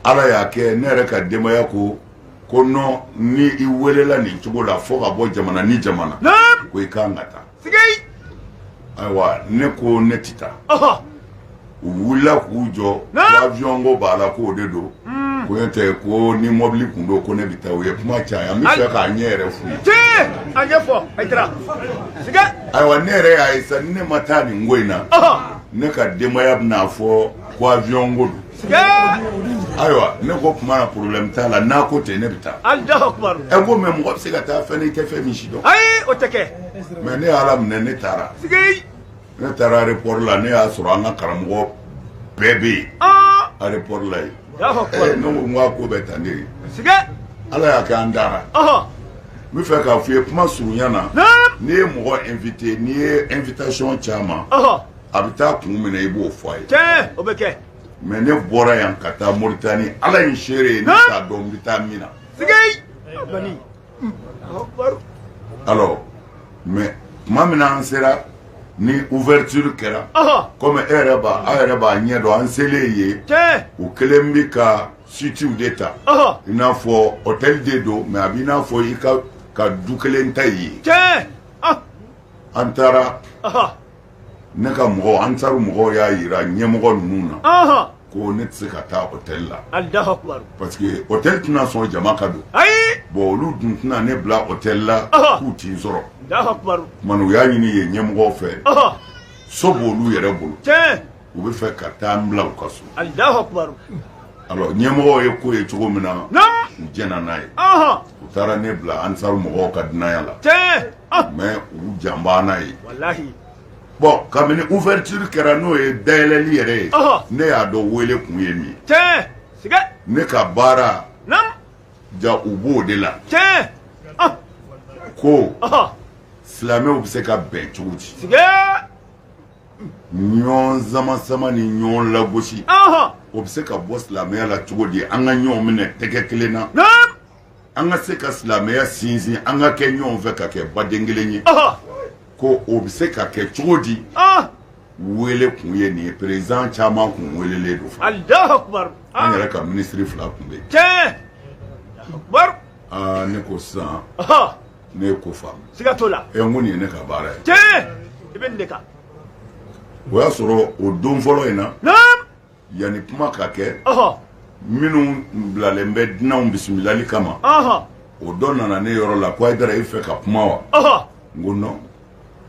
Ala y'a kɛ ne yɛrɛ ka denbaya ko ko non ni i welela nin cogo la fo ka bɔ jamana ni jamana ko i ka kan ka taa ayiwa ne ko ne tɛ taa u wulila k'u jɔ avion ko b'a la k'o de don ko ne tɛ ko ni mɔbili tun don ko ne bɛ taa u ye kuma caya n bɛ fɛ k'a ɲɛ yɛrɛ f'u ye a ɲɛfɔ ayiwa ne yɛrɛ y'a ye sa ni ne ma taa nin ko in na ne ka denbaya bɛna fɔ ko avion ko don ayiwa ne ko kuma na problème t'a la n'a ko ten ne bɛ taa Alahu akibaru ɛ ko mais mɔgɔ bɛ se ka taa fɛn n'i tɛ fɛn min si dɔn ayi o tɛ kɛ mais ne y'a laminɛ ne taara sigi ne taara aéroport la ne y'a sɔrɔ an ka karamɔgɔ bɛɛ bɛ yen aa aéroport la yen Alahu ɛ akibaru ne ko n ko a ko bɛ tan de ye sigi ala y'a kɛ an taara ɔhɔ n bɛ fɛ k'a f'i ye kuma surunya na naam n'i ye mɔgɔ invité n'i ye invitation caman ɔhɔ a bɛ taa kun min na i b'o fɔ a ye cɛ o bɛ kɛ mais ne bɔra yan ka taa moritani ala ye seere ye ne t'a dɔn n bɛ taa min na alors mais tuma min na an sera ni ouverture kɛra komi e yɛrɛ b'a aw yɛrɛ b'a ɲɛ dɔn an selen ye u kɛlen bɛ ka suitew de ta i n'a fɔ hôtel de don mais a b'i n'a fɔ i ka ka du kelen ta i ye an taara ne ka mɔgɔw ansaru mɔgɔw y'a yira ɲɛmɔgɔ ninnu na ɔhɔn ko ne tɛ se ka taa hôtel la Alahu akibaru parce que hôtel tɛna sɔn jama ka don ayi bon olu dun tɛna ne bila hôtel la Ɔhɔn. k'u tɛ n sɔrɔ Alahu akibaru kuma na u y'a ɲini yen ɲɛmɔgɔw fɛ ɔhɔn so b'olu yɛrɛ bolo tiɲɛ u bɛ fɛ ka taa n bila u ka so alors ɲɛmɔgɔw ye ko ye cogo min na u jɛnna n'a ye u taara ne bila ansaru mɔgɔw ka dunanya la ah! mais u jan bɛ n na yen bon kabini ouverture kɛra n'o ye dayɛlɛli yɛrɛ ye ne y'a dɔn wele kun ye min ye ne ka baara jaa u b'o de la ah! ko silamɛw bɛ se ka bɛn cogo di ɲɔgɔn samasama ni ɲɔgɔn lagosi o bɛ se ka bɔ silamɛya la cogo di an ka ɲɔgɔn minɛ tɛgɛ kelen na an ka se ka silamɛya sinsin an ka kɛ ɲɔgɔn fɛ ka kɛ baden kelen ye ko o bɛ se ka kɛ cogo di wele kun ye nin ye président caman kun welelen don fo an yɛrɛ ka minisiri fila tun bɛ yen ne ko sisan ne ye ko faamu siga t'o la ɛ n ko nin ye ne ka baara ye tiɲɛ i bɛ nin de kan o y'a sɔrɔ o don fɔlɔ in na naam yanni kuma ka kɛ ɔhɔ minnu bilalen bɛ dunanw bisimilali kama ɔhɔ o dɔ nana ne yɔrɔ la ko hayidara i fɛ ka kuma wa ɔhɔ n ko non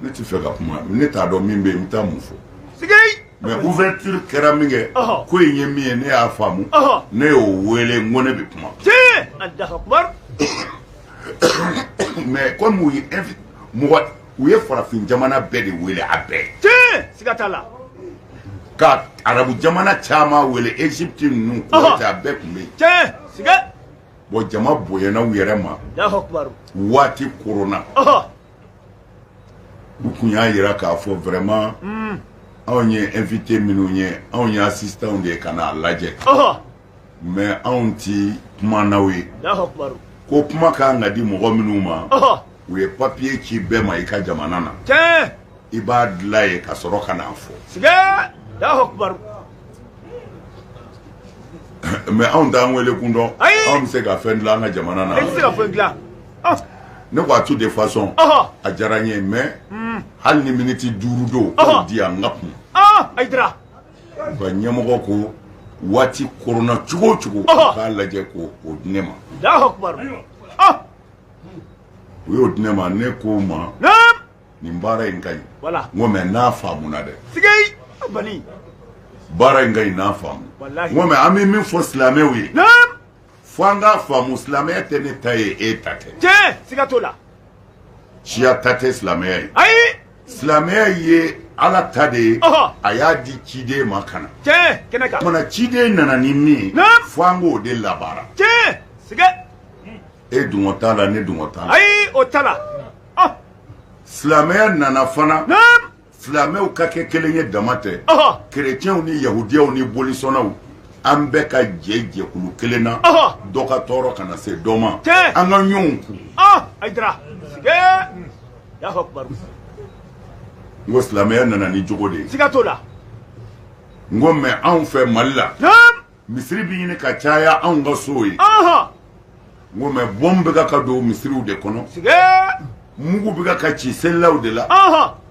ne tɛ fɛ ka kuma ne t'a dɔn min bɛ yen n bɛ taa mun fɔ mais ouverture kɛra minkɛ ko in ye min ye ne y'a faamu ne y'o wele n ko ne bɛ kuma mais komi u ye mɔgɔ u ye farafin jamana bɛɛ de wele a bɛɛ siga t'a la ka arabu jamana caman wele egypte ninnu kuwait a bɛɛ tun bɛ yen bon jama bonyana u yɛrɛ ma waati kɔrɔnna u tun y'a jira k'a fɔ vraiment hmm. anw ye invité minnu ye anw ye assistant de ye ka n'a lajɛ mais anw ti kumanaw ye ko kuma ka kan ka di mɔgɔ minnu ma u ye papiye ci bɛɛ ma i ka jamana na i b'a dilan yen ka sɔrɔ ka n'a fɔ mɛ anw t'an wele kun dɔn anw bɛ se ka fɛn dilan an ka jamana na ne ko a tout de façon a diyara n ye mɛ hmm. hali ni miniti duuru don k'o di yan n ka kuma Ayidara u ka ɲɛmɔgɔ ko waati koronna cogo o cogo k'a lajɛ ko o di ne ma u y'o di ne ma ne k'o ma nin baara in ka ɲi n ko mɛ n'a faamuna dɛ baara in ka ɲi n'a faamu n ko mɛ an bɛ min fɔ silamɛw ye fo an k'a faamu silamɛya tɛ ne ta ye e ta tɛ tiɲɛ siga t'o la siya ta tɛ silamɛya ye ayi silamɛya ye ala ta de ye Ɔhɔ. a y'a di ciden ma ka na tiɲɛ kɛnɛ kan kumana ciden nana ni min ye Naam. fo an k'o de labaara tiɲɛ siga e dungɔ t'a la ne dungɔ t'a la ayi o t'a la ɔ silamɛya nana fana naam Silamɛw ka kɛ kelen ye dama tɛ kerecɛnw ni yahudiyaw ni bolisɔnnaw an bɛɛ ka jɛ jɛkulu kelen na dɔ ka tɔɔrɔ kana se dɔ ma an ka ɲɔgɔn kun n ko silamɛya nana ni jogo de ye siga t'o la n ko mɛ anw fɛ mali la misiri bɛ ɲini ka caya anw ka sow ye n ko mɛ bombe bɛ ka ka don misiriw de kɔnɔ mugu bɛ ka ka ci selilaw de la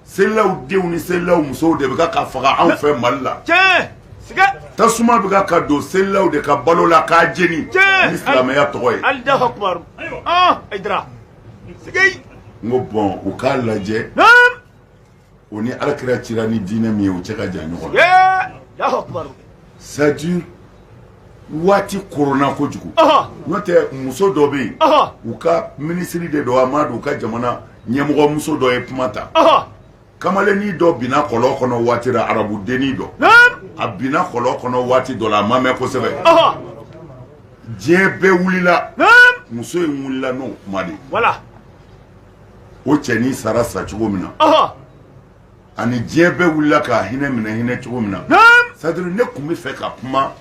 selilaw denw ni selilaw musow de bɛ ka ka faga anw fɛ mali la tasuma bɛ ka ka don selilaw de ka balo la k'a jeni ni silamɛya tɔgɔ ye n ko bɔn u k'a lajɛ o ni ala kira cira ni diinɛ min ye o cɛ ka jan ɲɔgɔn na saju waati koronna kojugu n'o tɛ muso dɔ bɛ yen u ka minisiri de don wa n m'a dɔn u ka jamana ɲɛmɔgɔ muso dɔ ye kuma ta kamalennin dɔ binna kɔlɔn kɔnɔ waati la arabu dennin dɔ a binna kɔlɔn kɔnɔ waati dɔ la a ma mɛɛn kosɛbɛ diɲɛ bɛɛ wulila muso in wulila n'o kuma de ye o cɛnin sara sa cogo min na ani diɲɛ bɛɛ wulila k'a hinɛ minɛ hinɛ cogo min na sadiri ne tun bɛ fɛ ka kuma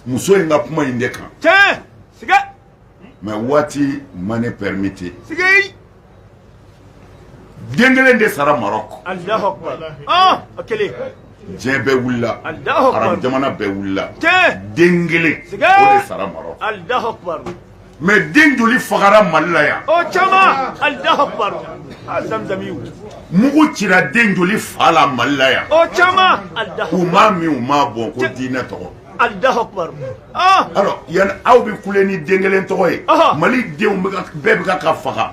muso in ka kuma in de kan mɛ waati ma ne pɛrɛmɛti den kelen de sara Maroc diɲɛ bɛɛ wulila arabu jamana bɛɛ wulila den kelen o de sara Maroc mɛ den joli fagara mali la yan caman ali mugu cira den joli fa la mali la yan caman u ma min u ma bɔ ko diinɛ tɔgɔ ali yan aw bɛ kule ni den kelen tɔgɔ ye mali denw bɛɛ bɛ ka faga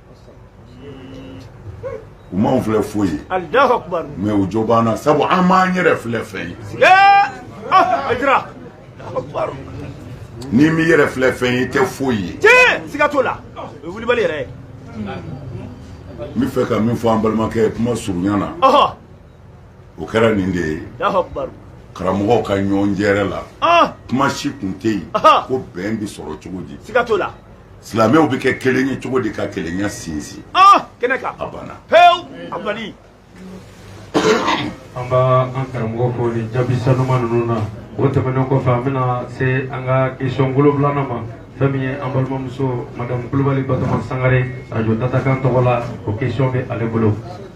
u m'anw filɛ foyi ye mɛ u jo b'an na sabu an m'an yɛrɛ filɛ fɛn ye ah, n'i m'i yɛrɛ filɛ fɛn ye i tɛ foyi ye tiɲɛ siga t'o la o ye wulibali yɛrɛ ye n bɛ fɛ ka min fɔ an balimakɛ ye kuma surunya na o kɛra nin de ye karamɔgɔw ka ɲɔgɔn jɛrɛ la ah! kuma si kun tɛ yen ko bɛn bɛ sɔrɔ cogo di siga t'o la silamɛw bɛ kɛ kelen ye cogo di ka kelenya sinsin ah! kɛnɛ kan a banna pewu a bali an b'an karamɔgɔ fo nin jaabi sanuma ninnu na o tɛmɛnen kɔfɛ an bɛna se an ka question wolonwulana ma fɛn min ye an balimamuso madamu kulubali batoma sangare arajo datakan tɔgɔ la o question bɛ ale bolo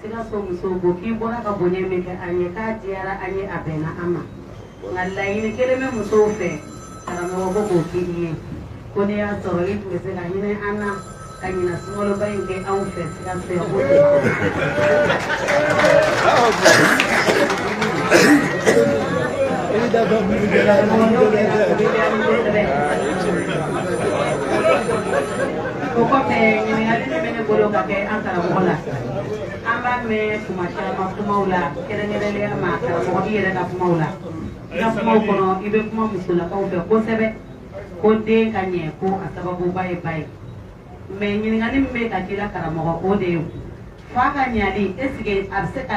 Sikaso musow ko k'i bɔra ka bonya min kɛ an ye k'a diyara an ye a bɛnna an ma nka laɲini kelen bɛ musow fɛ karamɔgɔ ko k'o k'i ye ko n'a y'a sɔrɔ i tun bɛ se ka hinɛ an na ka ɲinan sunkaloba in kɛ anw fɛ Sikaso yan ko o kɔfɛ ɲininkali min bɛ ne bolo ka kɛ an karamɔgɔ la an b'a mɛn kuma caman kumaw la kɛrɛnkɛrɛnnenya ma karamɔgɔ i yɛrɛ ka kumaw la i ka kumaw kɔnɔ i bɛ kuma musolakaw fɛ kosɛbɛ ko den ka ɲɛ ko a sababuba ye ba ye mɛ ɲininkali min bɛ ka k'i la karamɔgɔ o de ye fa ka ɲali esike a bɛ se ka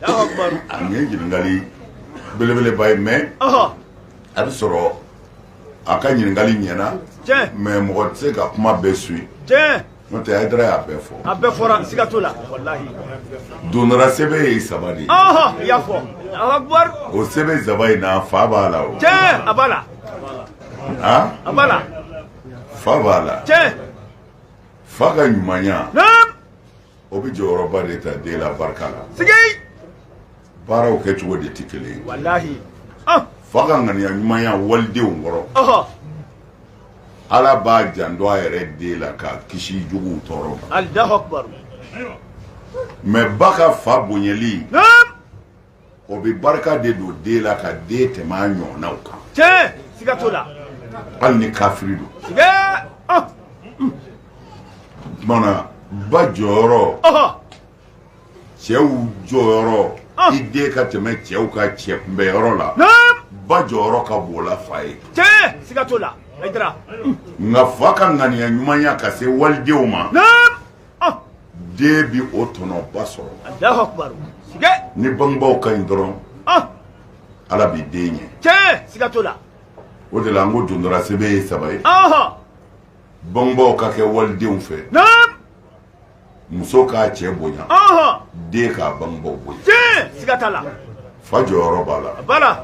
nin ye ɲininkali belebeleba ye mɛ a bɛ sɔrɔ a ka ɲininkali ɲɛna mɛ mɔgɔ tɛ se ka kuma bɛɛ suivi n'o tɛ ayidara y'a bɛɛ fɔ a bɛɛ fɔra siga t'o la walahi dondara sɛbɛ ye saba de ye i y'a fɔ o sɛbɛ saba in na fa b'a la o tiɲɛ a b'a la a b'a la fa b'a la tiɲɛ fa ka ɲumanya o bɛ jɔyɔrɔba de ta den la barika la sigi baaraw kɛcogo de tɛ kelen ye walahi ah! fa ka ŋaniya ɲumanya walidenw kɔrɔ ala b'a janto a yɛrɛ den la k'a kisi juguw tɔɔrɔ ma mɛ ba ka fa bonyali o bɛ barika de don den la ka den tɛmɛ a ɲɔgɔnnaw kan tiɲɛ siga t'o la hali ni kafiri don siga ah. tuma na ba jɔyɔrɔ cɛw jɔyɔrɔ ah. i den ka tɛmɛ cɛw ka cɛ kunbɛyɔrɔ la ba jɔyɔrɔ ka bon o la fa ye tiɲɛ siga t'o la nka fa ka ŋaniya ɲumanya ka se walidenw ma den bɛ o tɔnɔba sɔrɔ ni bangebaw ka ɲi dɔrɔn ala bɛ den ɲɛ siga t'o la o de la an ko dondora sebe ye saba ye bangebaw ka kɛ walidenw fɛ muso k'a cɛ bonya den k'a bangebaw bonya siga t'a la fa jɔyɔrɔ b'a la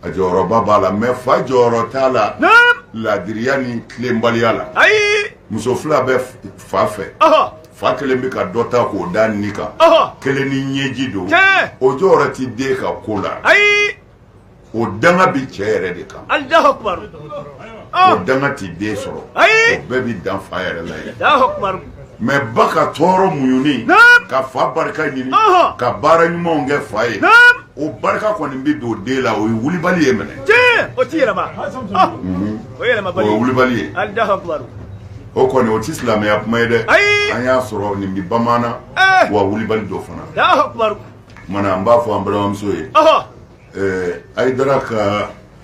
A jɔyɔrɔba b'a la mɛ fa jɔyɔrɔ t'a la ladiriya ni tilenbaliya la ayi muso fila bɛ fa fɛ fa kelen bɛ ka dɔ ta k'o da nin kan kelen ni ɲɛji don o jɔyɔrɔ tɛ den ka ko la ayi o danga bɛ cɛ yɛrɛ de kan o danga tɛ den sɔrɔ ayi o bɛɛ bɛ dan fa yɛrɛ la yen mɛ ba ka tɔɔrɔ muɲuni ka fa barika ɲini ka baara ɲumanw kɛ fa ye o barika kɔni bɛ don den la o ye wulibali ye minɛ o tɛ yɛlɛma o yɛlɛma o ye wulibali ye o kɔni o tɛ silamɛya kuma ye dɛ an y'a sɔrɔ nin bɛ bamanan wa wulibali don fana tuma na an b'a fɔ an balimamuso ye ayidara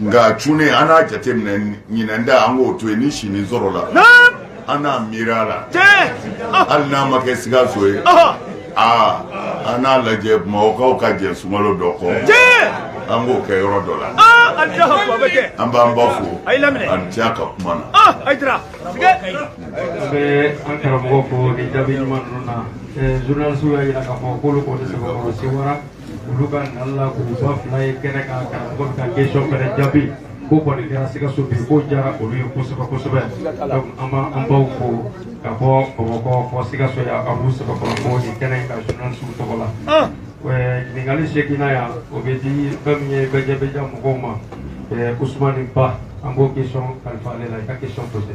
Nka c an n'a jate minɛ ɲin da an k'o to yen ni si sɔrɔla an n'a mi la hali n'a ma kɛ sikaso ye aa an n'a lajɛ mɔgɔwkaw ka jɛ sumaworo dɔ kɔ an k'o kɛ yɔrɔ dɔ la an b'an ba fo an diya ka kuma na an karamɔgɔ fo jaabi ɲuman na zsiw y'a jira ka fɔ' olu ka nali la k'u ba fila ye kɛnɛ kan karamɔgɔ bɛ ka kesɔn fɛnɛ jaabi k'o kɔni kɛra sikaso bi k'o diyara olu ye kosɛbɛ kosɛbɛ donc an b'an baw fo ka bɔ bamakɔ fo sikaso yan a b'u sɛbɛ kɔnɔ ko nin kɛnɛ in ka journalisiw tɔgɔ la ɲininkali seginna yan o bɛ di fɛn min ye bɛjɛbɛja mɔgɔw ma usumani ba an b'o kesɔn kalifa ale la i ka kesɔn pose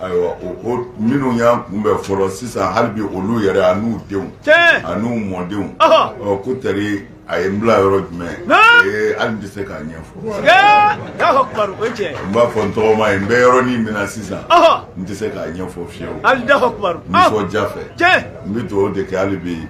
Ayiwa minnu y'a kun bɛ fɔlɔ sisan hali olu yɛrɛ ani n'u denw ani n'u mɔdenw ko tari a ye n bila yɔrɔ jumɛn hali bɛ se k'a ɲɛfɔ n b'a fɔ n tɔgɔma ye n bɛ yɔrɔ min minɛ sisan n tɛ se k'a ɲɛfɔ fiye ja fɛ n bɛ dugawu de kɛ hali bɛ yen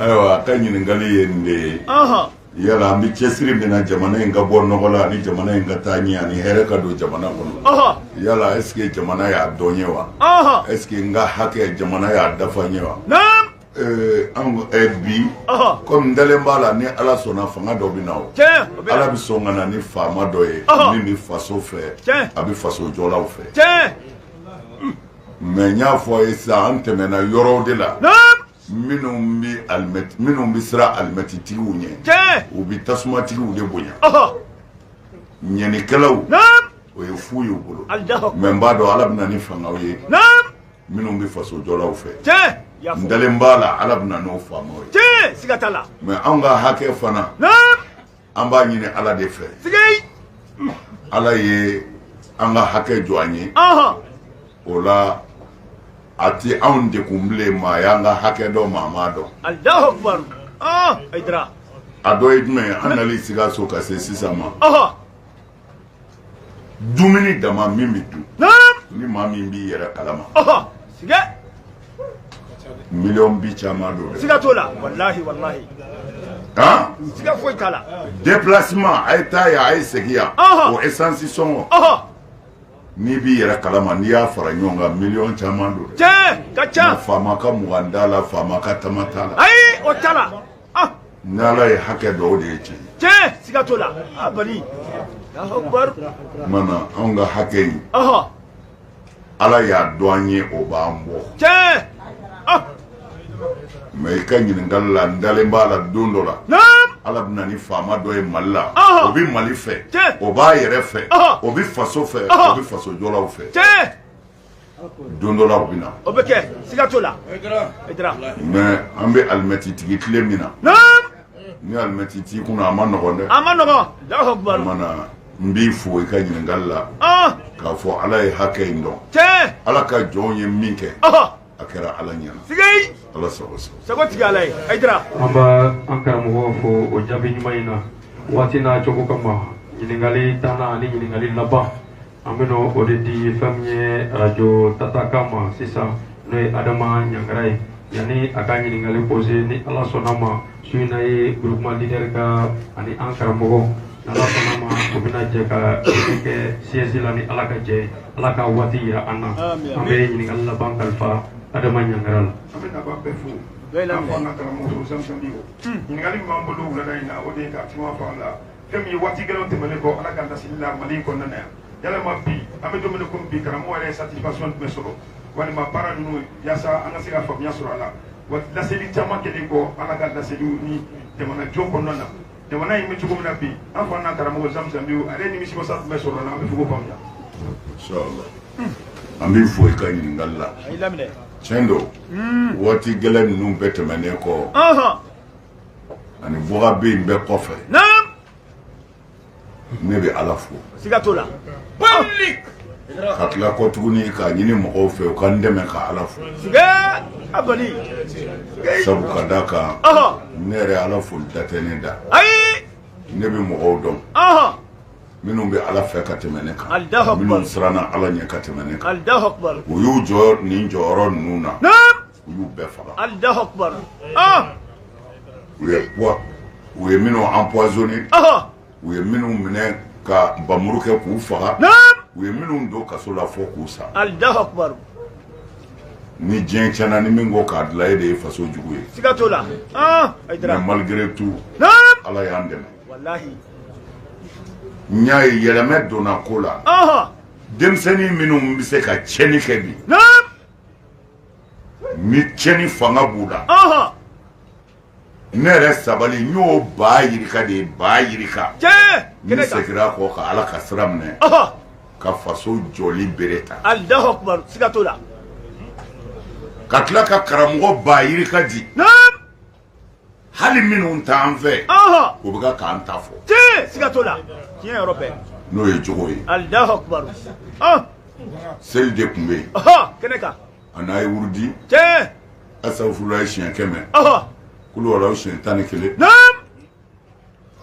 ayiwa a ka ɲininkali ye nin de ye yala an bɛ cɛsiri min na jamana in ka bɔ nɔgɔ la ani jamana in ka taa ɲɛ ani hɛrɛ ka don jamana kɔnɔ yala est-ce que jamana y'a dɔn n ye wa est-ce que n ka hakɛ jamana y'a dafa n ye wa Ee an ko ɛ bi ko mɛ n dalen b'a la ni ala sɔnna fanga dɔ bɛ na o ala bɛ sɔn ka na ni faama dɔ ye min bɛ faso fɛ a bɛ faso jɔlaw fɛ mɛ n y'a fɔ a ye sisan an tɛmɛna yɔrɔw de la minnu minnu bɛ siran alimɛtitigiw ɲɛ u bɛ tasumatigiww de bonya ɲanikɛlaw o ye fu y'u bolo mɛ n b'a dɔn ala bɛ na ni fangaw ye minnu bɛ faso jɔlaw fɛ n dalen b'a la ala bɛ na n'o faamaw ye siga t'a la mɛ anw ka hakɛ fana an b'a ɲini ala de fɛ ala ye an ka hakɛ jɔ an ye o la a tɛ anw degun bilen maa y'an ka hakɛ dɔn maa m'a dɔn a dɔ ye jumɛn ye an nali sikaso ka se sisan ma dumuni dama min bɛ dun ni maa min b'i yɛrɛ kalama siga miliyɔn bi caman don dɛ siga t'o la walahi walahi han siga foyi t'a la déplacement a ye taa yan a ye segin yan Ɔhɔ. o essence sɔngɔ ɔhɔ n'i b'i yɛrɛ kalama n'i y'a fara ɲɔgɔn kan miliyɔn caman don dɛ tiɲɛ a ka ca faama ka mugan t'a la faama ka tama t'a la ayi o t'a la ah ni ala ye hakɛ dɔn o de ye tiɲɛ tiɲɛ siga t'o la alahu akubar mana anw ka hakɛ in ɔhɔ ala y'a dɔn an ye o b'an bɔ tiɲɛ ah mɛ i ka ɲininkali la n dalen b'a la don dɔ la naam ala bɛ na ni faama dɔ ye mali la Ɔhɔ. o bɛ mali fɛ Tiɲɛ. o b'a yɛrɛ fɛ Ɔhɔ. o bɛ faso fɛ Ɔhɔ. o bɛ faso jɔlaw fɛ tiɲɛ don dɔ la o bɛ na. o bɛ kɛ siga t'o la. i dira. mais an bɛ alimɛtitigi tile min na. naam. ni alimɛti t'i kun a ma nɔgɔn dɛ. a ma nɔgɔn. jago baro. o mana n b'i fo i ka ɲininkali la. Ah. k'a fɔ ala ye hakɛ in dɔn. tiɲɛ. ala ka jɔnw ye min kɛ. a kɛra ala ɲɛna. siga ye. ala sago sago. sago tigi ala ye. i dira. an b'an karamɔgɔ fo o jaabi ɲuman in na waati n'a cogo kama ɲininkali tannan ani ɲininkali laban. an bɛna o de di fɛn min ye arajo tatakan ma sisan n'o ye adama ɲangara ye yanni a ka ɲininkali posé ni ala sɔnna ma su in na ye groupement leader ka ani an karamɔgɔ n'ala sɔnna ma o bɛna jɛ ka dɛmɛ kɛ siège la ni ala ka jɛ ye ala ka waati yira an na an bɛ ɲininkali laban kalifa adama ɲangara la an bɛ nafa bɛɛ fo k'a fɔ an ka karamɔgɔ fo samsɔn bi o ɲininkali min b'an bolo wulada in na o de ye ka kuma fɔ an la fɛn min ye waati gɛlɛnw tɛmɛnen kɔ ala ka laseli la mali in kɔnɔna na yan yalama bi an bɛ don min komi bi karamɔgɔ yɛrɛ ye satisfaction jumɛn sɔrɔ walima baara ninnu yaasa an ka se ka faamuya sɔrɔ a la wa laseli caman kɛlen kɔ ala ka laseliw ni jamana jɔ kɔnɔna na jamana in bɛ cogo min na bi an fa n'an karamɔgɔ zamzamiw a ye nimisiwasa jumɛn sɔrɔ a la an b'a fɛ k'o faamuya an b'i fo i ka ɲininkali la tiɲɛ don waati gɛlɛn ninnu bɛɛ tɛmɛnen kɔ ani fɔkabɛn bɛɛ kɔfɛ ne bɛ ala fo siga t'o la ka tila kɔ tuguni k'a ɲini mɔgɔw fɛ u ka n dɛmɛ ka ala fo sabu ka da kan ne yɛrɛ ala fo da tɛ ne da ne bɛ mɔgɔw dɔn minnu bɛ ala fɛ ka tɛmɛ ne kan minnu siranna ala ɲɛ ka tɛmɛ ne kan u y'u jɔ nin jɔyɔrɔ ninnu na u y'u bɛɛ faga alahu akubar u ye wa u ye minnu empoisonné u ye minnu minɛ ka bamuru kɛ k'u faga u ye minnu don kaso la fo k'u sa alahu akubar ni diɲɛ tiɲɛna ni min ko k'a dilan e de ye faso jugu ye siga t'o la mais malgré tout ala y'an dɛmɛ walahi n y'a ye yɛlɛmɛ donna ko la denmisɛnnin minnu bɛ se ka tiɲɛni kɛ bi ni cɛni fanga b'u la ne yɛrɛ sabali n y'o ba yirika de ye ba yirika n'u seginna kɔ ka ala ka sira minɛ ka faso jɔli bere ta ka tila ka karamɔgɔ ba yirika di hali minnu t'an fɛ u bɛ kan k'an ta fɔ siga t'o la tiɲɛ yɔrɔ fɛ n'o ye jogo ye alahu akubar seli de tun bɛ yen kɛnɛ kan ani an ye wurudi kɛ astafurulayi siɲɛ kɛmɛ kuluwalahu siɲɛ tan ni kelen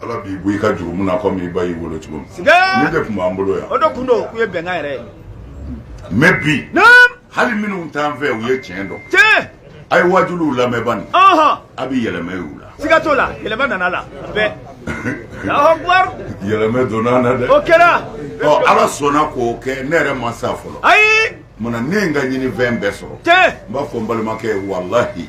ala b'i bɔ i ka jurumu na komi i ba y'i wolo cogo min nin de tun b'an bolo yan o de kun don k'u ye bɛnkan yɛrɛ ye mɛ bi hali minnu t'an fɛ u ye tiɲɛ dɔn tiɲɛ a ye wajuliw lamɛn bani a bɛ yɛlɛmɛ y'u la siga t'o la yɛlɛmɛ nana la bɛɛ alahu akubar yɛlɛmɛ donna na dɛ o kɛra ɔ ala sɔnna k'o kɛ ne yɛrɛ ma sa fɔlɔ ayi munna ne ye n ka ɲininfɛn bɛɛ sɔrɔ tiɲɛ n b'a fɔ n balimakɛ ye walahi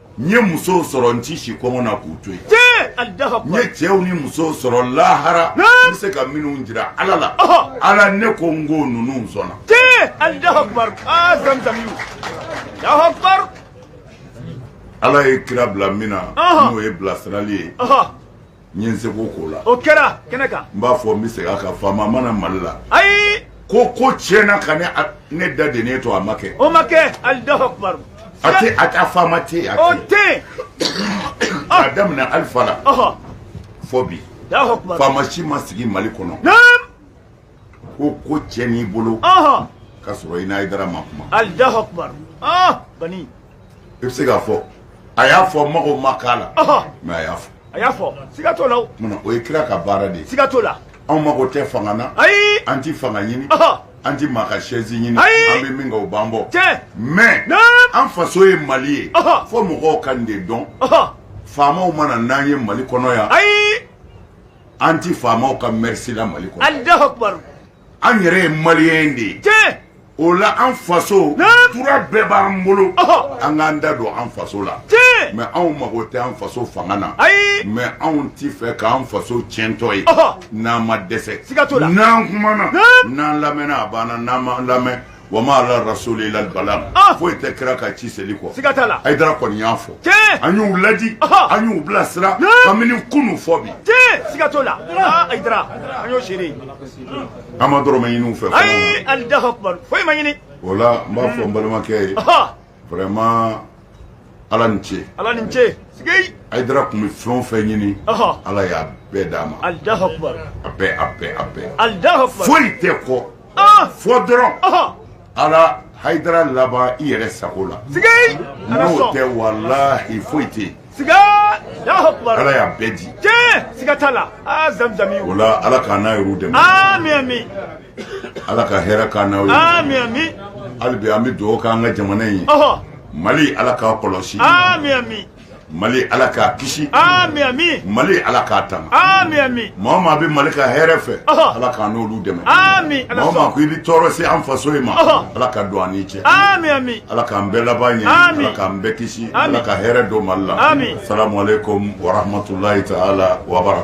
n ye musow sɔrɔ n tɛ si kɔngɔ na k'u to yen n ye cɛw ni musow sɔrɔ lahara n bɛ se ka minnu jira ala la ala ne ko n ko ninnu sɔnna ala ye kira bila min na n'o ye bilasirali ye n ye n seko k'o la o kɛra kɛnɛ kan n b'a fɔ n bɛ segin a kan faama ma na mali la ayi ko ko tiɲɛna ka ne ne da dennen to a ma kɛ o ma kɛ alahu akubaru a tɛ a tɛ faama tɛ yen o tɛ yen a daminɛ alifa la fo bi faama si ma sigi mali kɔnɔ ko ko cɛn i bolo ka sɔrɔ i n'ayidara ma kuma alahu akubar bani i bɛ se k'a fɔ a y'a fɔ mago ma k'a la mɛ a y'a fɔ a y'a fɔ siga t'o la o munna o ye kira ka baara de ye siga t'o la anw mago tɛ fanga na ayi an ti fanga ɲini an ti maa ka sɛzi ɲini an bɛ min kɛ o b'an bɔ mɛ an faso ye mali ye fo mɔgɔw ka nin de dɔn faamaw ma na n'an ye mali kɔnɔ yan ayi an tɛ faamaw ka mɛrisi la mali kɔnɔ alahu akubaru an yɛrɛ ye maliyɛn de ye tiɲɛ o la an faso Naam. droit bɛɛ b'an bolo Ɔhɔ. an k'an da don an faso la tiɲɛ mɛ anw mago tɛ an faso fanga na ayi mɛ anw ti fɛ k'an faso tiɲɛtɔ ye Ɔhɔ. n'an ma dɛsɛ Siga t'o la. n'an kumana Naam. n'an lamɛnna a banna n'an ma lamɛn Wa ma ala rasuli ila balagu foyi tɛ kira kan ci seli kɔ siga t'a la ayidara kɔni y'a fɔ a y'u laadi a y'u bila sira kamini kunun fo bi siga t'o la ayidara an y'o seere a ma dɔrɔmɛ ɲini u fɛ ayi alahu akubar foyi ma ɲini o la n b'a fɔ n balimakɛ ye vraiment ala ni ce ala ni ce sigi ayidara tun bɛ fɛn o fɛn ɲini ala y'a bɛɛ d'a ma alahu akubar a bɛɛ a bɛɛ a bɛɛ alahu akubar foyi tɛ kɔ fo dɔrɔn ala hayidara laban i yɛrɛ sago la sigi n'o tɛ walahi foyi tɛ yen siga alahu akubar ala y'a bɛɛ di tiɲɛ siga t'a la aa zamzami o la ala k'an n'a yɛrɛw dɛmɛ ami ami Ala ka hɛrɛ k'an n'aw ye hali bi an bɛ dugawu kɛ an ka jamana in ye mali ala k'a kɔlɔsi mali ala k'a kisi mali ala k'a tanga mɔgɔ maa bɛ mali ka hɛrɛ fɛ ala k' n'olu dɛmɛ maa ko i bɛ tɔɔrɔ se an faso in ma ala ka don an ni cɛ ala k'an bɛɛ laban ɲɛ ala k'an bɛɛ kisi ala ka hɛrɛ don mali la salamalekum waramatulayi taala wabara